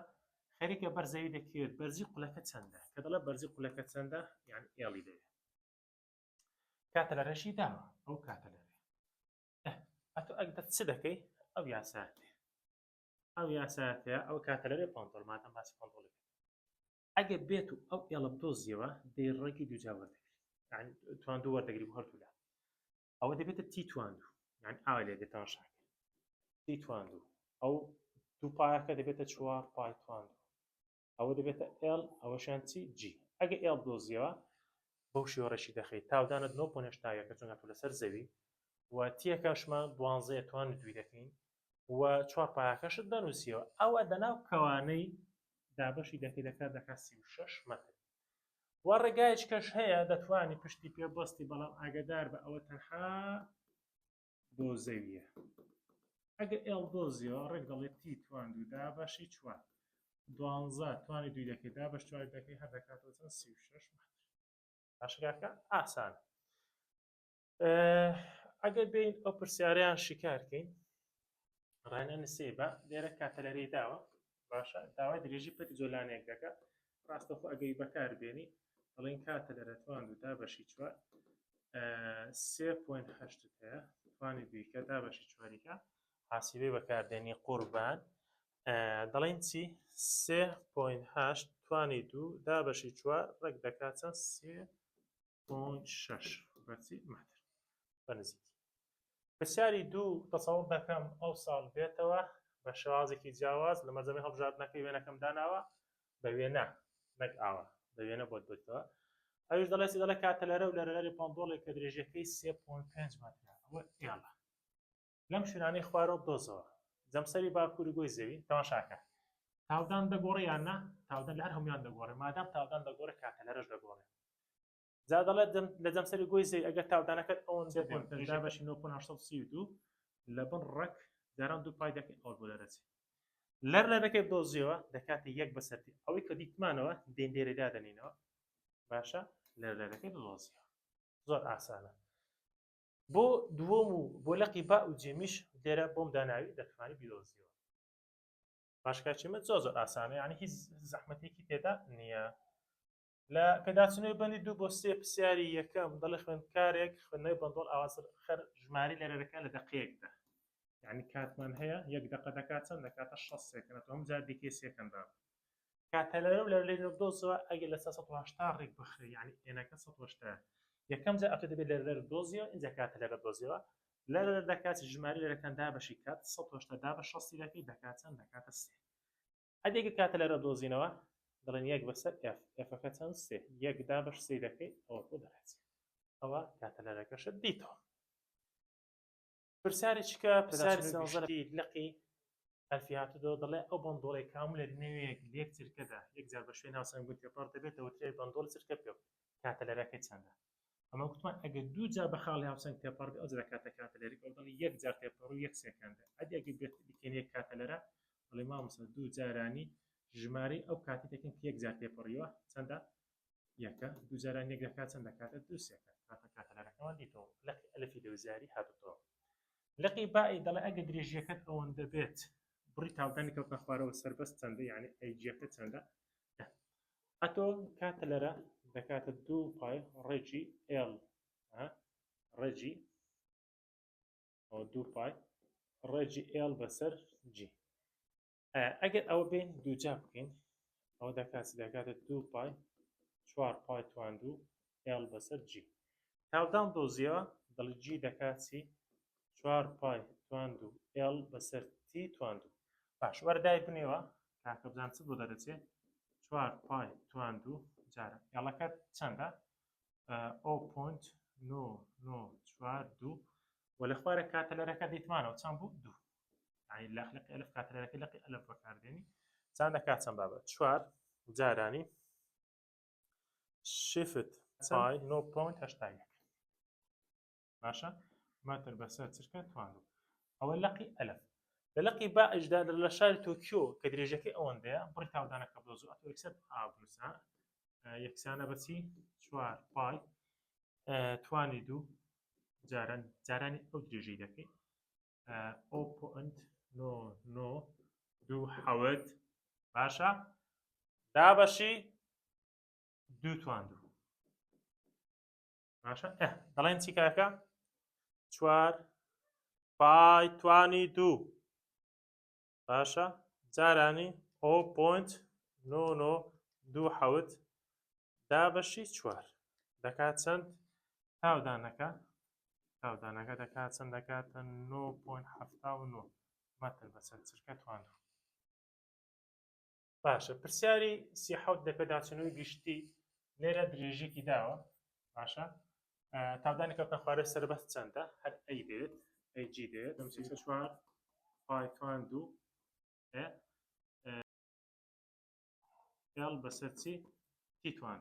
خەریکە بەرزەوی دەکرێت بەرزی قولەکە چەندە کە دەڵە بەرزی قولەکە چەندە یان ئێڵی دەوێت کاتە لە ڕێشی داوە ئەو کاتە لە ڕێ ئەتو ئەک دەت چ دەکەی ئەو یاساتێ ئەو یاساتێ ئەو کاتە لە رێ پۆنتۆرمان ئەم باسی پۆنتۆڵی ئەگەر بێت و ئەو ئێڵە بدۆزیەوە دەی ڕێکی دوجا وەردەگری توان دوو وەردەگری هەردوولا ئەوە دەبێتە تی تواندو یان ئاوا لێ دێتەوە شاک تی تواندو ئەو دوو پایەکە دەبێتە چوار پای تواندو ئەوە دەبێتە L ئەوەشیان چی G ئەگە L دۆزیەوە بەو شێوە ڕێکی دەخەیت تاودانت نۆ پۆ نەشتاویەکە چونگە تۆ لەسەر زەوی و تیەکەشمان دوانزەیە توان دوی دەکەین و چوار پایەکەشت دەنووسیەوە ئەوە دەناو کەوانەی دابەشی دەکەی دەکات دەکات سی و شش مەتر و ڕێگایش کەش هەیە دەتوانی پشتی پێ بەستی بەڵام ئاگدار بە ئەوە تەنها بۆ زەویە ئەگە ئێڵ بۆ زیۆ ڕێک دەڵێ تی توان دوو دا بەشی چوار دوانزە توانی دوی دەکەی دا بەش چوار دەکەی هەر دەکاتەوە چەند سی و شەش باشکاکە ئاسان ئەگەر بین ئەو پرسیاریان شیکارکەین ڕانە نسێ بە لێرە کاتەلەری داوە باشە داوای درێژی پەتی جۆلانەیەک دەکە ڕاستەخۆ ئەگەی بەکار بێنی دەڵێن کاتە لە رەتوان و تا بەشی چوار سێ پوین هەشت هەیە توانی بیکە تا بەشی چواریکە حاسیبەی بەکاردێنی قوربان دەڵێن چی سێ پوین هەشت توانی دوو دا بەشی چوار ڕێک دەکات چەند سێ پوین شەش بەچی مەتر بە نزیکی پرسیاری دوو، تەسەووڕ دەکەم ئەو ساڵ بێتەوە بە شێوازێکی جیاواز، لە مەزەمەی هەڵبژاردنەکەی وێنەکەم داناوە بە وێنە نەک ئاوا، بە وێنە بۆت بێتەوە. ئەویش دەڵێ چی دەڵێ کاتە لەرە و لەرە لەری پەندۆڵێک کە درێژیەکەی سێ پۆینت پێنج مەترە ئەوە ئێڵە لەم شوێنانەی خوارەوە دۆزەوە جەمسەری باکووری گۆی زەوی تەماشاکە تاودان دەگۆڕێ یان نا تاودان لە هەر هەمویان دەگۆڕێ مادام تاودان دەگۆڕێ کاتە لەرەش دەگۆڕێ جا دەڵێت لە جەمسەری گۆی زەوی ئەگەر تاودانەکەت ئەوەن دەبێت بەشی 1970 لە بن ڕەک جاران دوو پای دەکەین ئەو بۆ لەرەچی لەر لە دەکەێت دۆزیەوە دەکاتە یەک بەسەری ئەوەی کە دیتمانەوە دێن دێری دادەنینەوە باشە لەر لە دەکەێت دۆزیەوە زۆر ئاسانە بۆ دووەم و بۆ لەقی با و جێمیش لێرە بۆم داناوی دەتوانانی بیرۆزیەوە باشکچمە زۆ زۆر ئاسانە یعنی هیچ زەحمەتێکی تێدا نییە لە پێداچوونەوەی بەندی دوو بۆ سێ پرسیاری یەکەم دەڵێ خوێندکارێک خوێندنەوەی بەندۆڵ ئاوازر خەر ژماری لێرەرەکە لە دەقەیەکدا یعنی کاتمان هەیە یەک دەقە دەکات چەند دەکاتە 6 سێکەنە تۆم جار دیکەی سێکەندان کاتەلەرە و لە لێ دۆزەوە ئەگەر لە 1970 ڕێک بخرێ یعنی ئێنەکە 1970 یەکەم جا ئەتە دەبێت لە لەر دۆزیەوە اینجا کاتە لەرە دۆزیەوە لە لەر دەکات ژماری لەرەکان دابەشی کات 1970 دا بە 6 دەکات چەند دەکاتە سێ حەدێک دەکاتە لەرە دۆزینەوە دەڵێن یەک بەسەر ئێف ئێفەکە چەند سێ یەک دابەش سێ دەکەی ئەوە بۆ دەرەچێت ئەوە کاتەلەرەکەشت دیتەوە پرسیاری چکە پرسیاری سێزەری لقی ئەلفی هاتوو دەڵێ ئەو بەندۆڵی کامو لە نوێیەک لێک چرکەدا یەک جار بە شوێن ناوسەنگ گوتێ پڕ دەبێتەوە ترێ بەندۆڵ چرکە پێ کاتەلەرەکەی چەندە ئەمە گوتمان ئەگەر دوو جار بە خاڵی هاوسەنگ تێپەڕ بێ ئەو جا کاتە کاتەلەری ئەو دەڵی یەک جار تێپەڕ و یەک سێکەندە ئەدی ئەگەر بێت بکەین یەک کاتەلەرە دەڵی مامۆستا دوو جارانی ژمارەی ئەو کاتی دەکەین کە یەک جار تێپەڕیوە چەندە یەکە دوو جاران یەک دەکات چەند دەکاتە دوو سێکەند کاتە کاتەلەرەکەمان دیتەوە لەقی ئەلفی لەوزاری هاتوتەوە لەقی بائی دەڵێ ئەگەر درێژیەکەت ئەوەندە بێت بڕی تاوەکانی کەوتە خوارەوە سەربەست چەندە یعنی ئەیجیەکە چەندە ئەتۆ کاتلەرە دەکاتە دوو پای ڕێکی ئێڵ ها ڕێجی ئەو دوو پای ڕێجی ئێڵ بەسەر جی ئەگەر ئەوە بێن دووجا بکەین ئەو دەکات دەکاتە دوو پای چوار پای توان دوو ئێڵ بەسەر جی. تاودان دۆزییەوە، دەڵێت جی دەکات چی؟ چوار پای تواندوو ئێڵ بەسەر تی تواندوو. باش وەرە دایبنێوە کاکە بزان چ بۆ دەرەچێ؟ چوار پای تواندوو جارە ئێڵەکەت چەندە؟ ئەو پۆنت نۆ نۆ چوار دوو و لە خوارە کاتەلەرەکە دیتمانەوە چەند بوو دوو یعنی لە خلقی ئەلف کاتەلەرەکە لەقی ئەلف بەکاردێنی چەند دەکات چەند بابە چوار جارانی شفت پای نۆ پۆینت هەشتا یەک باشە مەتر بەسەر چرکە توانو ئەوە لەقی ئەلف لە لەقی با ئەجدا لە شاری تۆکیۆ کە درێژەکەی ئەوەندەیە بڕی تاودانەکە بۆ زوو ئەتۆ یەکسەر ئابنووسە یەکسانە بەچی چوار پای توانی دوو جاران جارانی ئەو درێژەی دەکەیت ئەو پۆنت نۆ نۆ دوو حەوت باشە دابەشی دوو توان دوو باشە دەڵێن چی کاکە چوار پای توانی دوو باشە جارانی ئۆ پۆنت نۆ نۆ دوو حەوت دا بەشی چوار دەکات چەند تاودانەکە تاودانەکە دەکات چەند دەکاتە نۆ پۆنت حەفتا و نۆ مەتر بەسەر چرکە توانە باشە پرسیاری سی حوت لە پێداچوونەوەی گشتی لێرە درێژێکی داوە باشە تادانی کەوتە خوارە سەربەست چەندە هەر ئەی دێت ئەی جی دێت چوار پایتوان دوو ئێڵ بەسەر چی تیتوان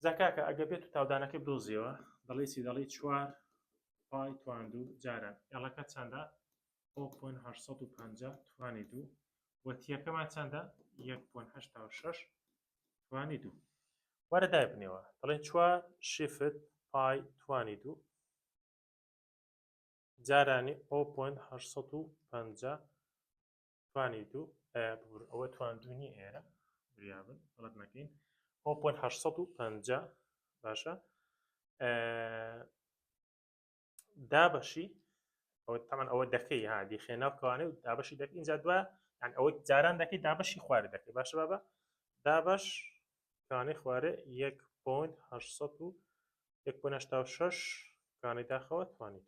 جا کاکە ئەگە بێت و تاودانەکەی بدۆزیەوە دەڵی چی دەڵی چوار پای تواندو جاران ئێڵەکە چەندە بۆ پۆن 850 توانی دوو وە تیەکەمان چەندە 1.86 توانی دوو وارە دای بنێەوە دەڵێ چوار شیفت پای توانی دوو جارانی ئۆ پۆن 850 توانی دوو ئەیە ببور ئەوە تواندونی ئێرە بریابن بەڵت نەکەین ئەو پۆن هەشسەد و پەنجا باشە دابەشی ئەو تەمان ئەوە دەکەی ها دیخێ ناوکەوانێ و دابەشی دەک اینجا دووە یان ئەوە جاران دەکەی دابەشی خوارە دەکەی باشە بابە دابش کانی خواره یک پوند هشت سد و یک پوند هشتا و شش کانی داخەوە توانیت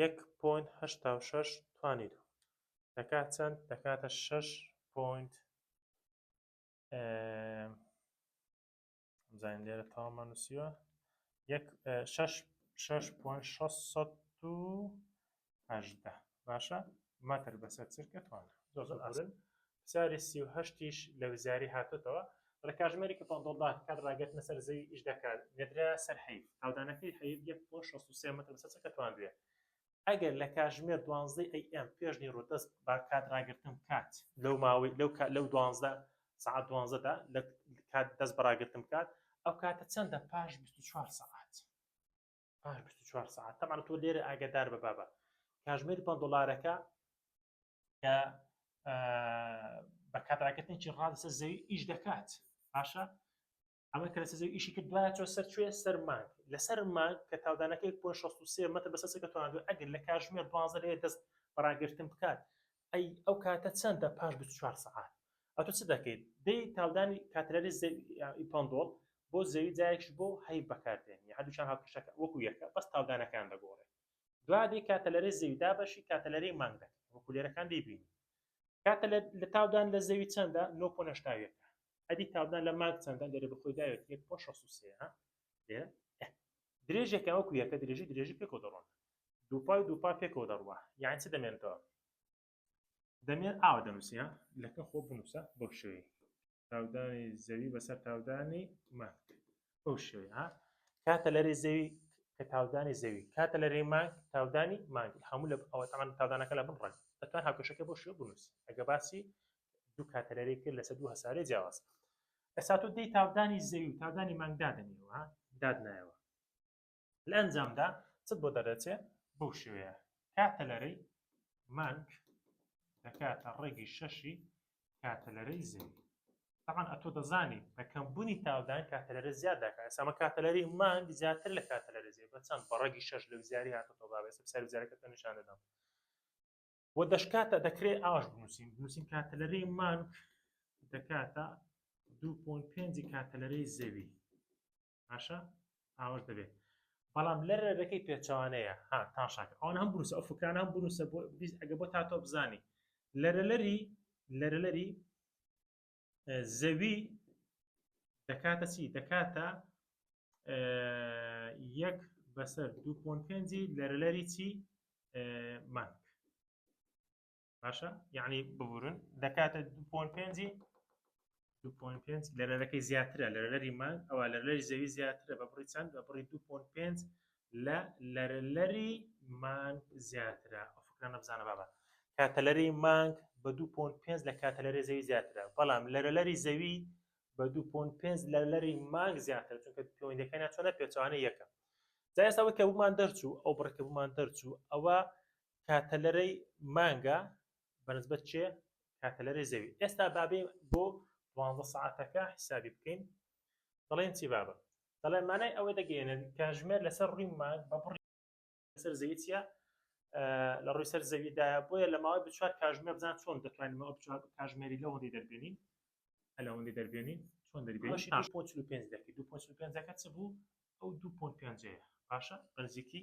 یەک پۆینت هەشتا و شەش توانی دوو دەکات چەند دەکاتە شەش پۆینت زین لێرە تاوامە نووسیوە یەک شەش شەش پۆینت شەست و هەژدە باشە مەتر بەسەر چرکە توانە زۆر زۆر ئاسن پساری سی و هەشت یش لە وزاری هاتۆتەوە دەڵێ کاژمێرێک کە پەنتۆڵ داخ کات ڕاگەتنە سەر زەوی ئیش دەکات نێدرایە سەر حەیف تاودانەکەی حەیف یەک پۆ شەست و سێ مەتر بەسەر چەکە تواندوێ ئەگەر لە کاژمێر دوانزدەی ئەی ئێم پێش نیڕۆ دەس با کات ڕاگرتن بکات لەو ماوەی لەو کات لەو دوانزدە سەعات دوانزدە دا لە کات دەس بە ڕاگرتن بکات ئەو کاتە چەندە پاش بیست و چوار سەعات پاش بیست و چوار سەعات تەبعەن تۆ لێرە ئاگەدار بە بابە کاژمێری پەن دۆڵارەکە کە بە کاتراکردنێکی ڕا لەسەر زەوی ئیش دەکات باشە ئەمە کە لەسەر زەوی ئیشی کرد دوایە چۆ سەر کوێ سەر مانگ لەسەر مانگ کە تاودانەکەی پۆ 16 مەتر بەسەسەکە توانێت ئەگەر لە کاژمێر دوازە لەوێ دەست بەڕاگرتن بکات ئەی ئەو کاتە چەندە پاش 24 سعات ئەتو چ دەکەیت دەی تاودانی کاتلەری پندۆڵ بۆ زەوی جایش بۆ هەی بەکاردێن هەردووچان هاوکشەکە وەکو یەکە بەس تاودانەکان دەگۆڕێت دوا دێ کاتەلەرەی زەوی دابەشی کاتەلەرەی مانگ دەکەن وەکو لێرەکان دەیبینی کاتە لە تاودان لە زەوی چەندە 9.7 ئەدی تاودان لە مانگ چەندە لێرە بەخۆی داوێت 1.63 لێرە درێژێکە وەکو یەکە درێژی درێژی پێکەوە دەڕۆن دووپای دووپا پێکەوە دەڕوە یان چ دەمێنتەوە دەمێر ئاوا دەنووسێ ها لەکە خۆ بنووسە بەو شێوەیە تاودانی زەوی بەسەر تاودانی مانگ بەو شێوەیە ها کاتە لەرێ زەوی کە تاودانی زەوی کاتە لەرێ مانگ تاودانی مانگ هەموو لە ئەوە تاوان تاودانەکە لە بن ڕێک دەتوان هاوکەشەکە بۆ شێوە بنووسی ئەگە باسی دوو کاتە لەرێ کرد لەسەر دوو هەسارێ جیاواز ئەسا تۆ دەی تاودانی زەوی و تاودانی مانگ دادنیەوە دادنایەوە لە ئەنجامدا چت بۆ دەردەچێ بەو شێوەیە کاتەلەرەی مانگ دەکاتە ڕێگەی شەشی کاتەلەرەی زەوی تاان ئەتۆ دەزانی بەکەم بوونی تاودان کاتەلەرە زیاد دەکات ئەسامە کاتەلەری مانگ زیاتر لە کاتەلەرە زیێ بە چەند بە ڕێگی شەش لە زیاری هاتە تۆ باێ سەر زیارەکە نیشان دەدەم و دەشکاتە دەکرێت ئاش بنووسین بنووسین کاتەلەرەی مانگ دەکاتە 2.5 کاتەلەرەی زەوی باشە ئاوەش دەبێت بەڵام لە ڕێگەکەی پێچەوانەیە ها تاشاک ئەوان هەم بروسە ئەو فکرانە هەم بروسە بۆ ئەگە بۆ تا تۆ بزانی لەرەلەری لەرەلەری زەوی دەکاتە چی دەکاتە یەک بەسەر دوو پۆنپێنجی لەرەلەری چی مانک باشە یعنی ببورن دەکاتە 2.5 2.5 لەرەرەکەی زیاترە لەرەری مان ئەوە لەرەری زەوی زیاترە بە بڕی چەند بە بڕی 2.5 لە لەرەری مان زیاترە ئەو فکرە نەبزانە بابە کاتەلەری مانگ بە 2.5 لە کاتەلەری زەوی زیاترە بەڵام لەرەلەری زەوی بە 2.5 لەرەری مانگ زیاتر چونکە پەیوەندەکەیان چۆنە پێچوانە یەکە جا ئێستا وەکە بوومان دەرچوو ئەو بڕکە بوومان دەرچوو ئەوە کاتەلەرەی مانگە بەنسبەت چێ کاتەلەرەی زەوی ئێستا بابێ بۆ دوانزە سعاتەکە حیسابی بکەین دەڵێن چی بابە دەڵێ مانای ئەوە دەگەێنن کاژمێر لەسەر ڕووی مانگ بە بڕی لەسەر زەوی چە لە ڕووی سەر زەویدا بۆیە لە ماوەی بچوار کاژمێ بزان چۆن دەتوانینەوە بچوار کاژمێری لەوەندی دەربێنین ئەلەوەندی دەربێنین چۆن دەربێنی 5 دەکەی 2.5 چ بوو ئەو 2.5 باشە بەنزیکی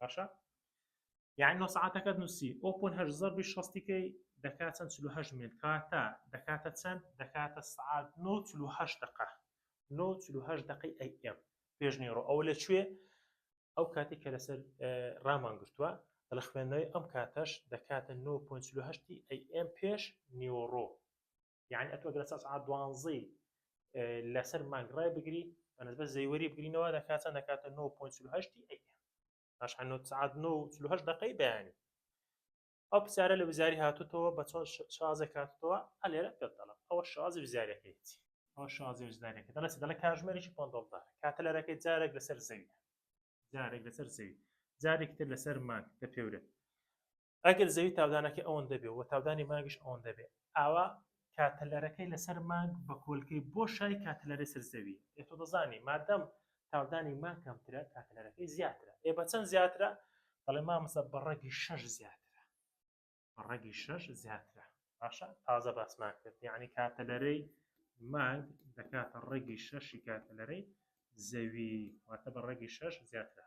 باشە یعنی نۆ سعاتەکەت نووسی ئەو پۆن هەر زەربی شەستیکەی دەکات چەند چلو هەشت مێل کاتە دەکاتە چەند دەکاتە سعات نۆ چلو هەشت دقە نۆ چلو هەشت دقی ئەی ئێم پێشنیڕۆ ئەو لە کوێ ئەو کاتی کە لەسەر ڕامان گرتووە دەڵە خوێندنەوەی ئەم کاتەش دەکاتە 9.8 ئەم پێش نیۆڕۆ یعنی ئەتۆ گەرە سەعات دوانزەی لەسەر مانگ ڕای بگری بەنسبە زەیوەری بگرینەوە لە کاتە نەکاتە 9.8 باش سعات 9 دقی بەیانی ئەو پرسیارە لە وزاری هاتوتەوە بە چۆن شازێک هاتوتەوە ئەلێرە پێ دەڵم ئەوە شازی وزارەکەیتی ئەو شازی وزارەکە دەڵێت دەڵە کاژمێریی پۆندڵدار کاتە لەرەکەی جارێک لەسەر زەوی جارێک لەسەر زەوی جارێک تر لەسەر مانگ دەپێورێت ئەگەر زەوی تاودانەکەی ئەوەندە بێ و تاودانی مانگیش ئەوەندە بێ ئاوا کاتەلەرەکەی لەسەر مانگ بە کۆلکەی بۆ شای کاتەلەرەی سەر زەوی ئێ تۆ دەزانی مادەم تاودانی مانگ کەمترە کاتەلەرەکەی زیاترە ئێ بە چەند زیاترە دەڵێ مامۆستا بە ڕەگی شەش زیاترە بە ڕەگی شەش زیاترە باشە تازە باسمان کرد یعنی کاتەلەرەی مانگ دەکاتە ڕەگی شەشی کاتەلەرەی زەوی واتە بە ڕەگی شەش زیاترە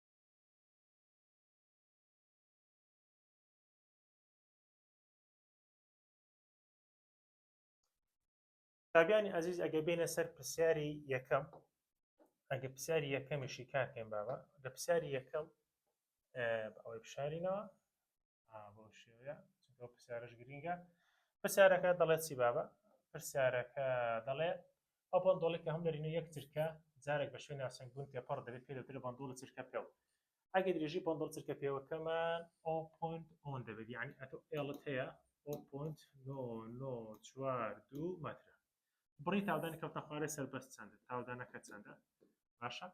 قوتابیانی ئازیز ئەگە بینە سەر پرسیاری یەکەم ئەگە پرسیاری یەکەمیشی کاکەین بابا لە پرسیاری یەکەم ئەوەی بشارینەوە بۆ شێوەیە چونکە پرسیارش گرینگە پرسیارەکە دەڵێت چی بابا پرسیارەکە دەڵێ ئەو بەندۆڵەی کە هەم نەرینە یەک چرکە جارێک بە شوێن ناسنگ بوون تێپەڕ دەبێت پێ دەوترێت بەندۆڵی چرکە پێو ئەگەر درێژی بەندۆڵ چرکە پێوەکەمان ئەو پۆنت ئۆن دەبێت یعنی ئەتۆ ئێڵت هەیە ئەو پۆنت نۆ نۆ چوار دوو مەترە بڕی تاودانی کەوتە خوارێ سەربەست چەندە تاودانەکە چەندە باشە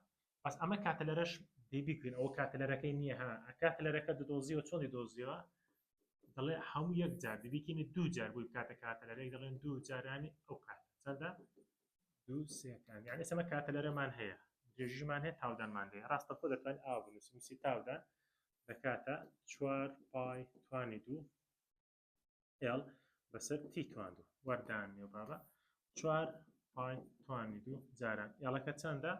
بەس ئەمە کاتەلەرەش دی بیکوین ئەو کاتەلەرەکەی نییە ها کاتەلەرەکە دەدۆزیەوە چۆنی دۆزیەوە دەڵێ هەموو یەک جار دەبیکینی دوو جار بووی کاتە کاتەلەرەی دەڵێن دوو جارانی ئەو کات چەندە دوو سێکان یعنی سەمە کاتەلەرەمان هەیە درێژیمان هەیە تاودانمان دەیە ڕاستە خۆ دەتوان ئاو بنووسی نووسی تاودان دەکاتە چوار پای توانی دوو ئێڵ بەسەر تی تواند و وەردان نێو بابە چوار پای توانی دوو جاران ئێڵەکە چەندە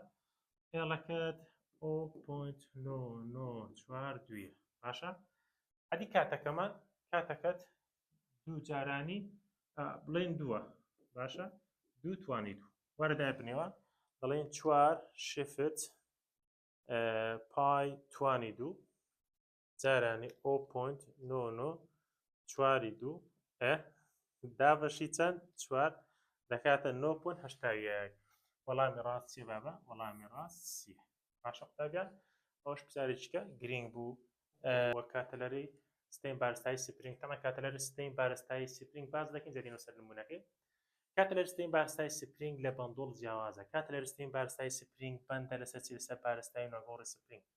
ئێڵەکەت ئۆ پۆینت نۆ نۆ چوار دویە باشە ئەدی کاتەکەمان کاتەکەت دوو جارانی بڵێن دووە باشە دوو توانی دوو وەرەدای بنێوە دەڵێن چوار شفت پای توانی دوو جارانی ئۆ پۆینت نۆ نۆ چواری دوو ئە دابەشی چەند چوار دەکاتە نۆ پۆینت هەشتا یەک وەڵامی ڕاست چێ بابە وەڵامی ڕاست سی باشە قوتابیان ئەوش پرسیارێکە گرنگ بوو وە کاتەلەری ستین بارستایی سپرینگ تەمە کاتەلەری ستین بارستایی سپرینگ باز دەکەین جەدینە سەر نمونونەکەی کات لەرستین بارستای سپرینگ لە بەندۆڵ جیاوازە کات لەرستین بارستای سپرینگ بەندە لەسەر چی لەسەر پارستای ناگۆڕی سپرینگ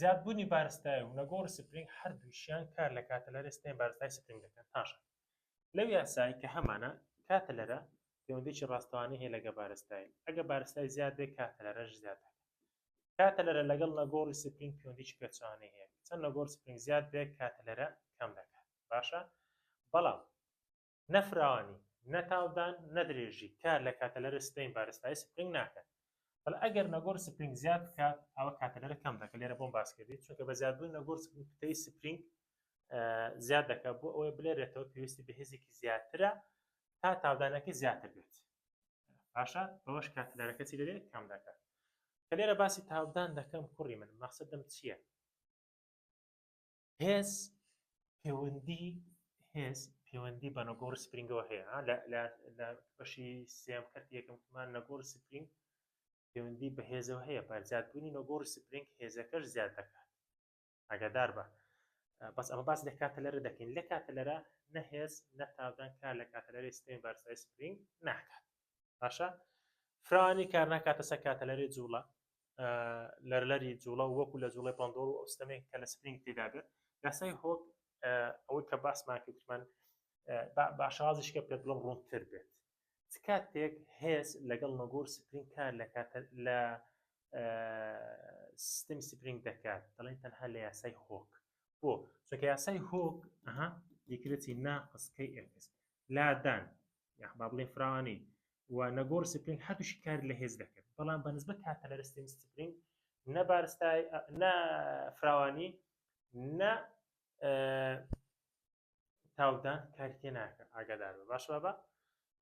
زیادبوونی بارستای و نەگۆڕی سپرینگ هەردووکیان کار لە کاتەلەرەی ستەمی بارستای سپرینگ دەکەن پاشان لەو یاسای کە هەمانە کاتەلەرە پەیوەندیی ڕاستەوانەی هەیە لەگە بارستای ئەگە بارستای زیاد بێ کاتەلەرەش زیاد دەکە کاتەلەرە لەگەڵ نەگۆڕی سپرینگ پەیوەندیی پێچەوانەی هەیە چەند نەگۆڕ سپرینگ زیاد بێ کاتەلەرە کەم دەکات باشە بەڵام نە فراوانی نە تاودان نە درێژی کار لە کاتەلەرە سپرینگ بارستایی سپرینگ ناکات بەڵ ئەگەر نەگۆڕ سپرینگ زیاد بکات ئەوە کاتەلەرە کەم دەکە لێرە بۆم باس کردی چونکە بە زیادبوون نەگۆڕ کوتەی سپرینگ زیاد دەکات بۆ ئەوەی بلێرێتەوە پێویستی بە هێزێکی زیاترە تا تاودانەکەی زیاتر بێت باشە بەوەش کاتەلەرەکە چی دەبێت کەم دەکات کە لێرە باسی تاودان دەکەم کوڕی من مەخصدم چییە هێز پێوەندی هێز پێوەندی بە نەگۆڕ سپرینگەوە هەیە لە بەشی سێم کەرت یەکەممان نەگۆڕ سپرینگ پەیوەندی بە هێزەوە هەیە بە زیادبوونی نەگۆڕ سپرینگ هێزەکەش زیاد دەکات ئەگەدار بە بەس ئەمە باس لە کاتەلەرە دەکەین لە کاتەلەرە نەهێز نەتاودان کار لە کاتەلەری سپین بارسای سپرینگ ناکات باشە فرانی کار ناکاتە سەر کاتەلەری جوڵە لەرلەری جوڵە و وەکو لە جوڵێ پندۆڵ و ئەوستەمێک کە لە سپرینگ تێدا بێت یاسای هۆک ئەوەی کە باسمان کردمان باشازیش کە پێ بڵم ڕوونتر بێت کاتێک هێز لەگەڵ نەگۆر سپرینگ کار لە کاتە لە سیستم سپرینگ دەکات دەڵێن تەنها لە یاسای هۆک بۆ چونکە یاسای هۆک ئەها دیکرێتی ناقسکەی ئێکس لادان یاخ با بڵێین فراوانی و نەگۆڕی سپرینگ هەردووشی کاری لە هێز دەکرد بەڵام بە نسبەت کاتەلەرستین سپرینگ نە بارستای نە فراوانی نە تاودان کاری تێ ناکە ئاگادار بە باش بابە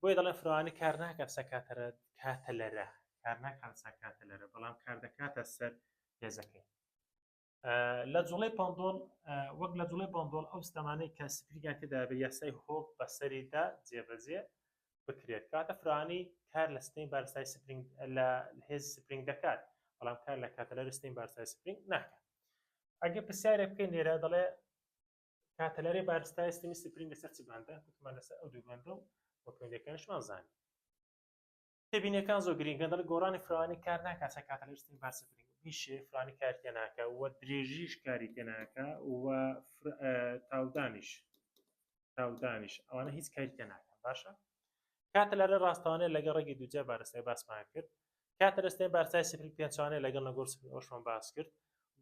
بۆی دەڵێن فراوانی کار ناکات سەکاتەرە کاتەلەرە کار ناکات سەکاتەلەرە بەڵام کار دەکاتە سەر هێزەکەی لە جوڵەی پاندۆڵ وەک لە جوڵەی پاندۆڵ ئەو ستەمانەی کە سپریگان تێدا بە یاسای هۆک بەسەریدا جێبەجێ بکرێت کاتە فرانی کار لە ستەمی بارسای سپرینگ لە هێز سپرینگ دەکات بەڵام کار لە کاتەلەر ستەمی بارسای سپرینگ ناکات ئەگە پرسیارێک بکەین لێرە دەڵێ کاتەلەری بارستای ستەمی سپرینگ لەسەر چ باندە کوتمان لەسەر ئەو دوو باندە و وەکوێنەکانشمان زانانی تێبینیەکان زۆر گرینگە دەڵێت گۆڕانی فراوانی کار ناکات چەند کاتە لە ئیسترین بار سفرین بیشێ فرانی کار تێ ناکە و درێژیش کاری تێ ناکە و تاودانیش تاودانیش ئەوانە هیچ کاری تێ ناکەن باشە کاتە لەرە ڕاستەوانێ لەگەڵ ڕێگەی دوجە بارستای باسمان کرد کاتە لەستێن بارسای سفری پێچوانێ لەگەڵ نەگۆر سفری ئەوشمان باس کرد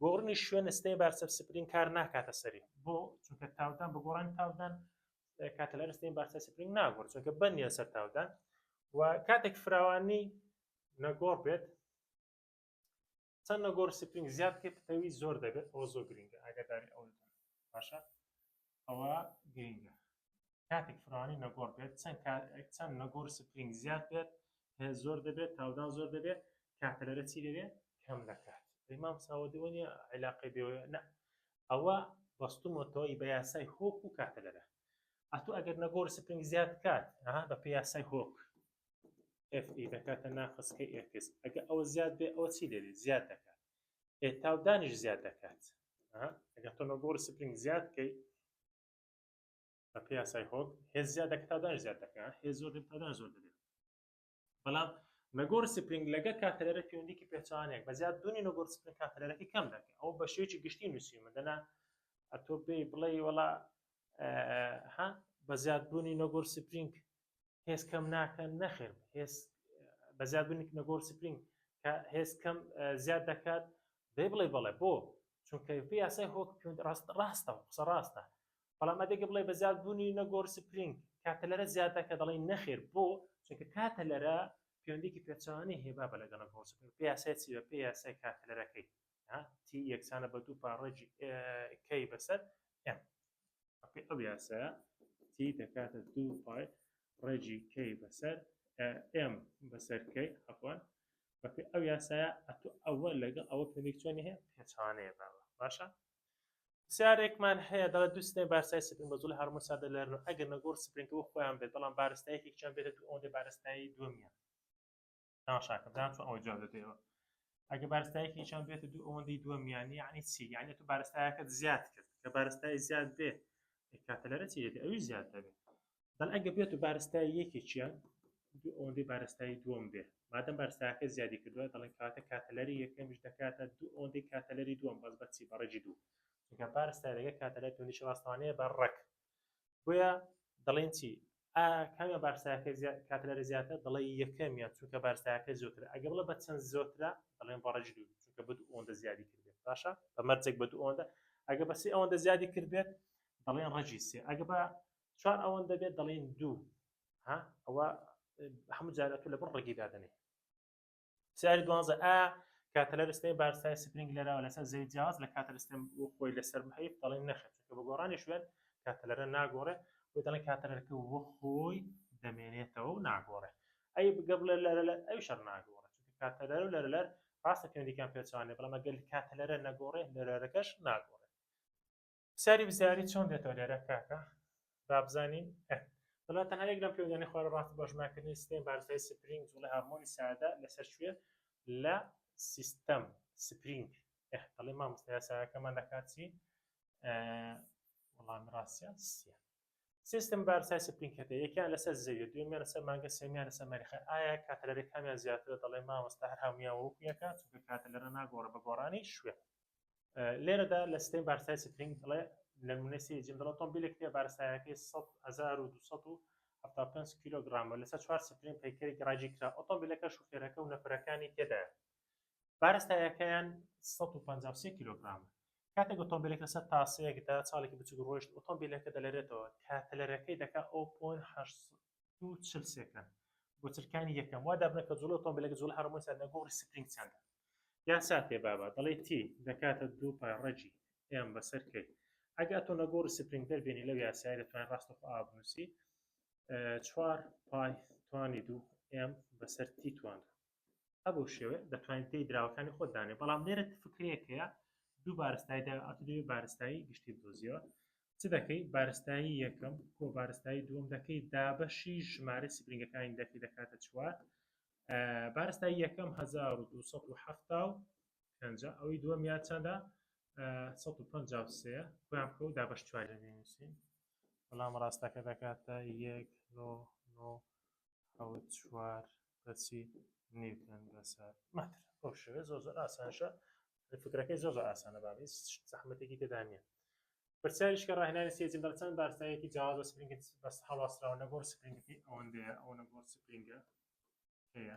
گۆڕنی شوێن ستێن بارسەر سپرین کار ناکاتە سەری بۆ چونکە تاودان بە گۆڕانی تاودان کاتەلەرستین بارسای سپرینگ ناگۆڕ چونکە بەندیان سەر تاودان و کاتێک فراوانی نەگۆڕ بێت چەند نەگۆڕ سپرینگ زیاد کە پتەوی زۆر دەبێت ئەوە زۆر گرنگە ئاگاداری ئەو باشە ئەوە گرنگە کاتێک فراوانی نەگۆڕ بێت چەند چەند نەگۆڕ سپرینگ زیاد بێت زۆر دەبێت تاودان زۆر دەبێت کاتەلەرە چی دەبێت کەم دەکات ئەیمام ساوەدەوەنی عیلاقی بێ نە ئەوە بەستومەتەوە ی بە یاسای هۆک و کاتە لەرە ئەتو ئەگەر نەگۆر سپرنگ زیاد کات ها بە پێ یاسای هۆک F ئی دەکاتە ناقص کە ئێکس ئەگە ئەوە زیاد بێ ئەوە چی لێرێ زیاد دەکات ئێ تاودانیش زیاد دەکات ئەگەر تۆ نەگۆر سپرنگ زیاد کەی بە پێ یاسای هۆک هێز زیاد دەکات تاودانیش زیاد دەکات هێز زۆر دەکات تاودان زۆر دەبێت بەڵام نەگۆڕ سپرینگ لەگە کاتەرەرە پەیوەندیکی پێچوانێک بە زیاد دونی نەگۆڕ سپرینگ کاتەرەرەکەی کەم دەکە ئەو بە شێوەیەکی گشتی نووسیمە دەنا ئەتۆ پێی بڵێ وەڵا ها بە زیاد بوونی نەگۆر سپرینگ هێز کەم ناکەن نەخێر هێز بە زیاد بوونی نەگۆر سپرینگ کە هێز کەم زیاد دەکات دەی بڵێ بەڵێ بۆ چونکە پێ یاسای هۆک ڕاستە قسە ڕاستە بەڵام ئەدەگە بڵێ بە زیاد بوونی نەگۆڕ سپرینگ کاتەلەرە زیادە کە دەڵی نەخێر بۆ چونکە کاتەلەرە پەیوەندێکی پێچوانی هێبا بە لەگەڵە گۆڕ سپرینگ پێ یاسای چی بە پێ یاسای کاتەلەرەکەی تی یەکسانە بە دوو پاڕێکی کەی بەسەر ئەم ئەو یاسە تی دەکاتە دوو پای ڕێجی کەی بەسەر ئێم بەسەرکەی ئەفۆن بەپێ ئەو یاسایە ئەتو ئەوە لەگەڵ ئەوە پێێکچۆنی هەیە پێچوانەیە باوە باشە پرسیارێکمان هەیە دەڵێت دوو سنەی بارسای سپرین بە زۆڵی هارمۆن سادە لەرن و ئەگەر نەگۆڕ سپرینت بۆ خۆیان بێت بەڵام بارستایەکێکیان بێتە دوو ئەوەندە بارستایی دووەمیان تەماشاکە بزان چۆن ئەوەی جواب دەدەیەوە ئەگە بارستایەکێکیان بێتە دوو ئەوەندەی دووەمیان یعنی چی یعنی تو بارستایەکەت زیاد کرد کە بارستای زیاد بێ کاتەلەرە چی دێت ئەوی زیاد دەبێت بەڵ ئەگە بێت و بارستای یەکێکیان ئەوەندەی بارستایی دووەم بێ مادەم بارستاکە زیادی کردووە دەڵێن کاتە کاتەلەری یەکەمیش دەکاتە دوو ئەوەندەی کاتەلەری دووەم بەس بەچی بەڕێکی دوو چونکە بارستا دەگە کاتەلای تونیش ڕاستوانەیە بە ڕەک بۆیە دەڵێن چی کامیان بارساکە کاتەلەری زیاتە دەڵێ یەکەمیان چونکە بارساکە زۆتر ئەگە بڵە بە چەند زۆترە دەڵێن بەڕێکی دوو چونکە بە دوو ئەوەندە زیادی کردێت باشە بە مەرجێک بە دوو ئەوەندە ئەگە بەسی ئەوەندە زیادی کردێت دەڵێن ڕەجی سێ ئەگە بە چوار ئەوەندە بێت دەڵێین دوو ها ئەوە هەموو جارە تۆ لەبەر ڕێگی دادنێ سیاری دوانزە ئا کاتەلەر سپێن بارسای سپرنگ لەراوە لەسەر زەوی جیاواز لە کاتەر سپێن و خۆی لەسەر بهیب دەڵێن نەخێت چونکە بە گۆڕانی شوێن کاتەلەرە ناگۆڕێ بۆ دەڵێن کاتەلەرکە وە خۆی دەمێنێتەوە و ناگۆڕێ ئەی بگە بڵێ لەرە لە ئەو شەر ناگۆڕێ چونکە کاتەلەر و لەرە لەر ڕاستە پێوەندیکان پێچوانێ بەڵام ئەگەر کاتەلەرە نەگۆڕێ لەرەرەکەش ناگۆڕێ پرسیاری وزاری چۆن دێتەوە لێرە کاکە بابزانین ئە دەڵێت تەنها یەک لەم پێودانی خوارە ڕاستی بۆ ژمارکردنی ستەی بارزای سپرینگ جوڵە هەرمۆنی سادە لەسەر شوێ لە سیستەم سپرینگ ئە دەڵێ مامۆستا یاساکەمان دەکات چی وڵامی ڕاستیان سیە سیستم بارسای سپرینگ کردە یەکیان لەسەر زەویە دوێنیان لەسەر مانگە سێمیان لەسەر مەریخە ئایا کاتەلەرێ کامیان زیاترە دەڵێ مامۆستا هەر هەمویان وەک یەکە چونکە کاتەلەرە ناگۆڕە بە گۆڕانی شوێن لێرەدا لە سیستم بارسای سپرینگ دەڵێ لە نمونەسی جیم دەڵێ تۆمبیلێک نیە بارسایەکەی 1275 کیلوگرامە لەسەر چوار سپرین پەیکەرێکی ڕاجی کرا ئۆتۆمبیلەکە شوفێرەکە و نەفرەکانی تێدایە بارە ستاییەکەیان سەد و پەنجا و سێ کیلۆگرامە. کاتێک ئۆتۆمبیلەکە لەسەر تاسەیەکدا چاڵێکی بچووک ڕۆیشت، ئۆتۆمبیلەکە دەلەرێتەوە، کە تەلەرەکەی دەکات ئەو پۆینت هەشت سەد و چل سێکەند بۆ چرکانی یەکەم. وا دابنە کە جووڵەی ئۆتۆمبیلەکە جووڵەی هەڕەمۆی ساردە، گۆڕی سپرینگ چەندە؟ یان سات پێ بابە، دەڵێی تی دەکاتە دوو پای ڕەگی ئێم بەسەر کەی. ئەگەر ئەتۆ نەگۆڕی سپرینگ دەربێنی لەو یاسایە، دەتوانی ڕاستەوخۆ ئاوا بنووسی چوار پای توانی دوو ئێم بەسەر تی توان دوو. هەبوو شێوێ دەتوانین پێی دراوەکانی خۆت دانێ بەڵام لێرە فکرەیەک هەیە دوو بارستایی دا ئەتو دەوێت بارستایی گشتی بدۆزیەوە چ دەکەی بارستایی یەکەم کۆ بارستایی دووەم دەکەی دابەشی ژمارە سپرینگەکانی دەکەی دەکاتە چوار بارستایی یەکەم 1970 ئەوەی دووەم یان چەندە 1950 خۆیان بکە و دابەش چواری لێنووسین بەڵام ڕاستەکە دەکاتە یەک نۆ نۆ حەوت چوار پرسی نیوتن بەسەر مەتر بۆ شوێ زۆر زۆر ئاسانشە فکرەکەی زۆر زۆر ئاسانە باێ زەحمەتێکی تێدا نیە پرسیاریش کە ڕاهێنانی سێزی بەرچان بارستایەکی جیاواز بە سپرینگت بەس هەڵواسراوە نەگۆڕ سپرینگەکەی ئەوەندەیە ئەوە نەگۆڕ سپرینگە هەیە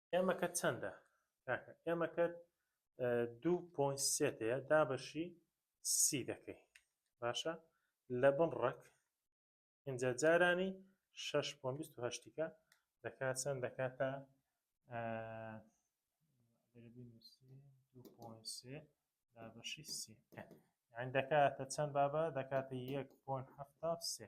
ئێمەکەت چەندە کاکە. ئێمەکەت دوو پۆین سێت هەیە دابەشی سی دەکەی باشە لە بن ڕەک ئینجا جارانی شش پۆن بیست و هەشتیکە دەکات چەند دەکاتە دابەشی سی یان دەکاتە چەند بابە دەکاتە یەک پۆن هەفتا سێ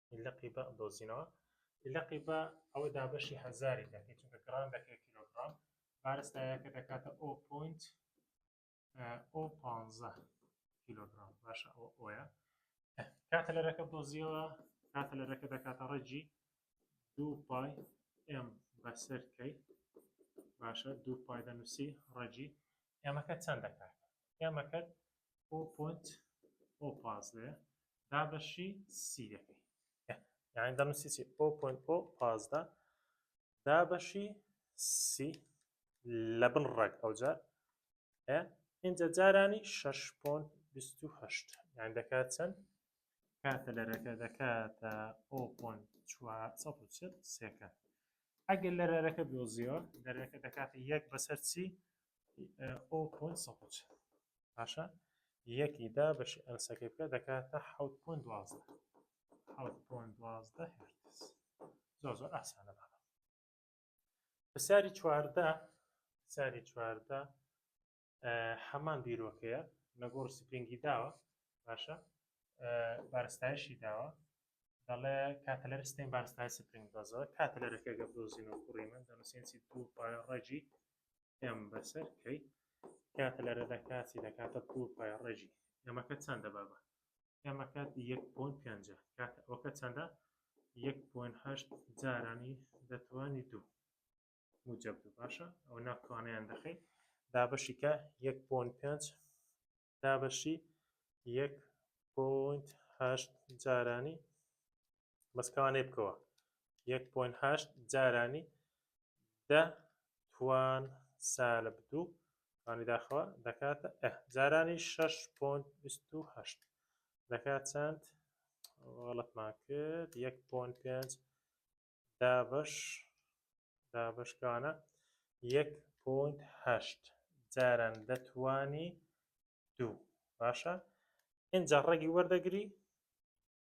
لقی بە دۆزینەوە لقی بە ئەوە دابەشی هەزاری دەکەی چونکە گران دەکەی کیلوگرام بارستایەکە دەکاتە ئەو پوینت ئەو پ کیلوگرام باشە ئەو ئۆە کاتە لەرەکە دۆزیەوە کاتە لەرەکە دەکاتە ڕێجی دوو پای ئەم بەسەر کەی باشە دوو پای دەنووسی ڕێجی ئێمەکە چەند دەکات گەمەکەت بۆ پۆنت ئۆ پازدە دابەشی سی دەکەی یعنی دەمسی سی ئۆ پۆنت ئۆ پازدە دابەشی سی لە بن ڕێک ئەوجار ئینجا جارانی 6.28 یان دەکات چەند کاتە لەرەکە دەکاتە ئۆ پۆنت 4 سێکە ئەگەر لەرەرەکە دۆزیەوە لەرەکە دەکاتە یەک بەسەر چی ئەو پۆن سەچ باشە یەکی دا بەشی ئەنسەکە بکە دەکاتە حوت پۆن دوازدە حوت پۆن دوازدە هێرتز زۆر زۆر ئاسانە بابە پرسیاری چواردە پرسیاری چواردە هەمان بیرۆکەیە نەگۆڕ سپرینگی داوە باشە بارستایشی داوە دەڵێ کاتەلەر ستین بارستای سپرینگ دەزەوە کاتەلەرەکە گە دۆزین و کوڕی من دەنووسێنسی دوو پای ڕێجی ئەم بەسەر کەی کاتەلەرە دەکاتی دەکاتە دوو پای ڕێجی ئەمەکە چەندە بابە ئەمەکە 1.5 کاتەوەکە چەندە 1.8 جارانی دەتوانی دوو موجب بوو باشە ئەو ناکوانیان دەخەیت دابەشی کە یەک پۆن پێنج دابەشی یەک پۆینت هەشت جارانی بەسکەوانێ بکەوە یەک پۆین هەشت جارانی دە توان سالب دوو توانی داخەوە دەکاتە ئە جارانی شش پۆنت بیست و هەشت دەکات چەند وەڵەتمان کرد یەک پۆن پێنج دابەش دابەش کانە یەک پۆینت هەشت جاران دەتوانی دوو باشە ئینجا ڕێگی وەردەگری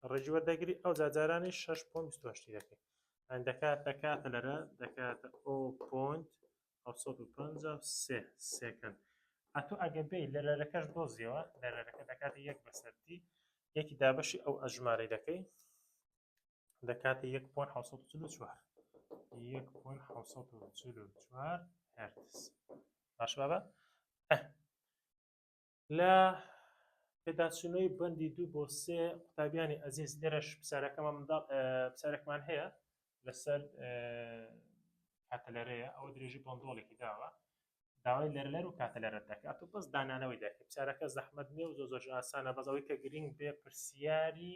ڕێژی وەردەگری ئەو جاجارانی 6.28 دەکەی ئەن دەکات دەکاتە لەرە دەکاتە ئۆ پۆنت 1950 سێکەند ئەتو ئەگە بێ لە لەرەکەش دۆزیەوە لە لەرەکە دەکاتی یەک بەسەرتی یەکی دابەشی ئەو ئەژمارەی دەکەی دەکاتە یەک پۆن حوسە چل و چوار یەک پۆن حوسە چل و چوار هەرتز باش بابە لە پێداچوونەوەی بەندی دوو بۆ سێ قوتابیانی ئەزیز لێرەش پسارەکەمان منداڵ پسارێکمان هەیە لەسەر کاتەلەرەیە ئەوە درێژی بۆندۆڵێکی داوە داوای لەرلەر و کاتەلەرە دەکات و بەس دانانەوەی دەکە پسارەکە زەحمت نیە و زۆ زۆش ئاسانە بەزەوەی کە گرنگ بێ پرسیاری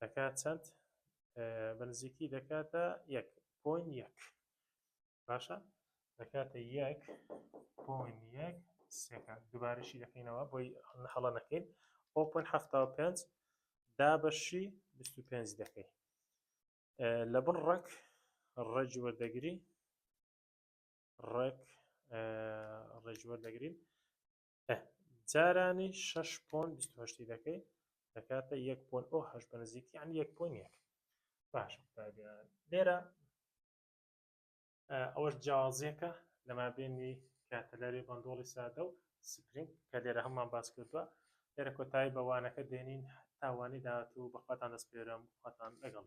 دەکات چەند بەنزیکی دەکاتە یەک پۆین یەک باشە دەکاتە یەک پۆین یەک سەکان دوبارەشی دەکەینەوە بۆی هەڵە نەکەین ئەو پۆین هەفتا و پێنج دا بەشی بیست و پێنج دەکەی لە بڕ ڕەک ڕێجوە دەگری ڕێک ڕێژوەر دەگرین جارانی شەش پۆن بیست و هەشتی دەکەی دەکاتە یەک پۆن ئەو هەش بە نزیک یعنی یەک پۆن یەک باش قوتابیان لێرە ئەوەش جیاوازیەکە لەما بینی کاتەلەری بەندۆڵی سادە و سپرینگ کە لێرە هەممان باس کردووە لێرە کۆتایی بەوانەکە دێنین تاوانی داهاتوو بەخواتان دەستپێرم خواتان لەگەڵ.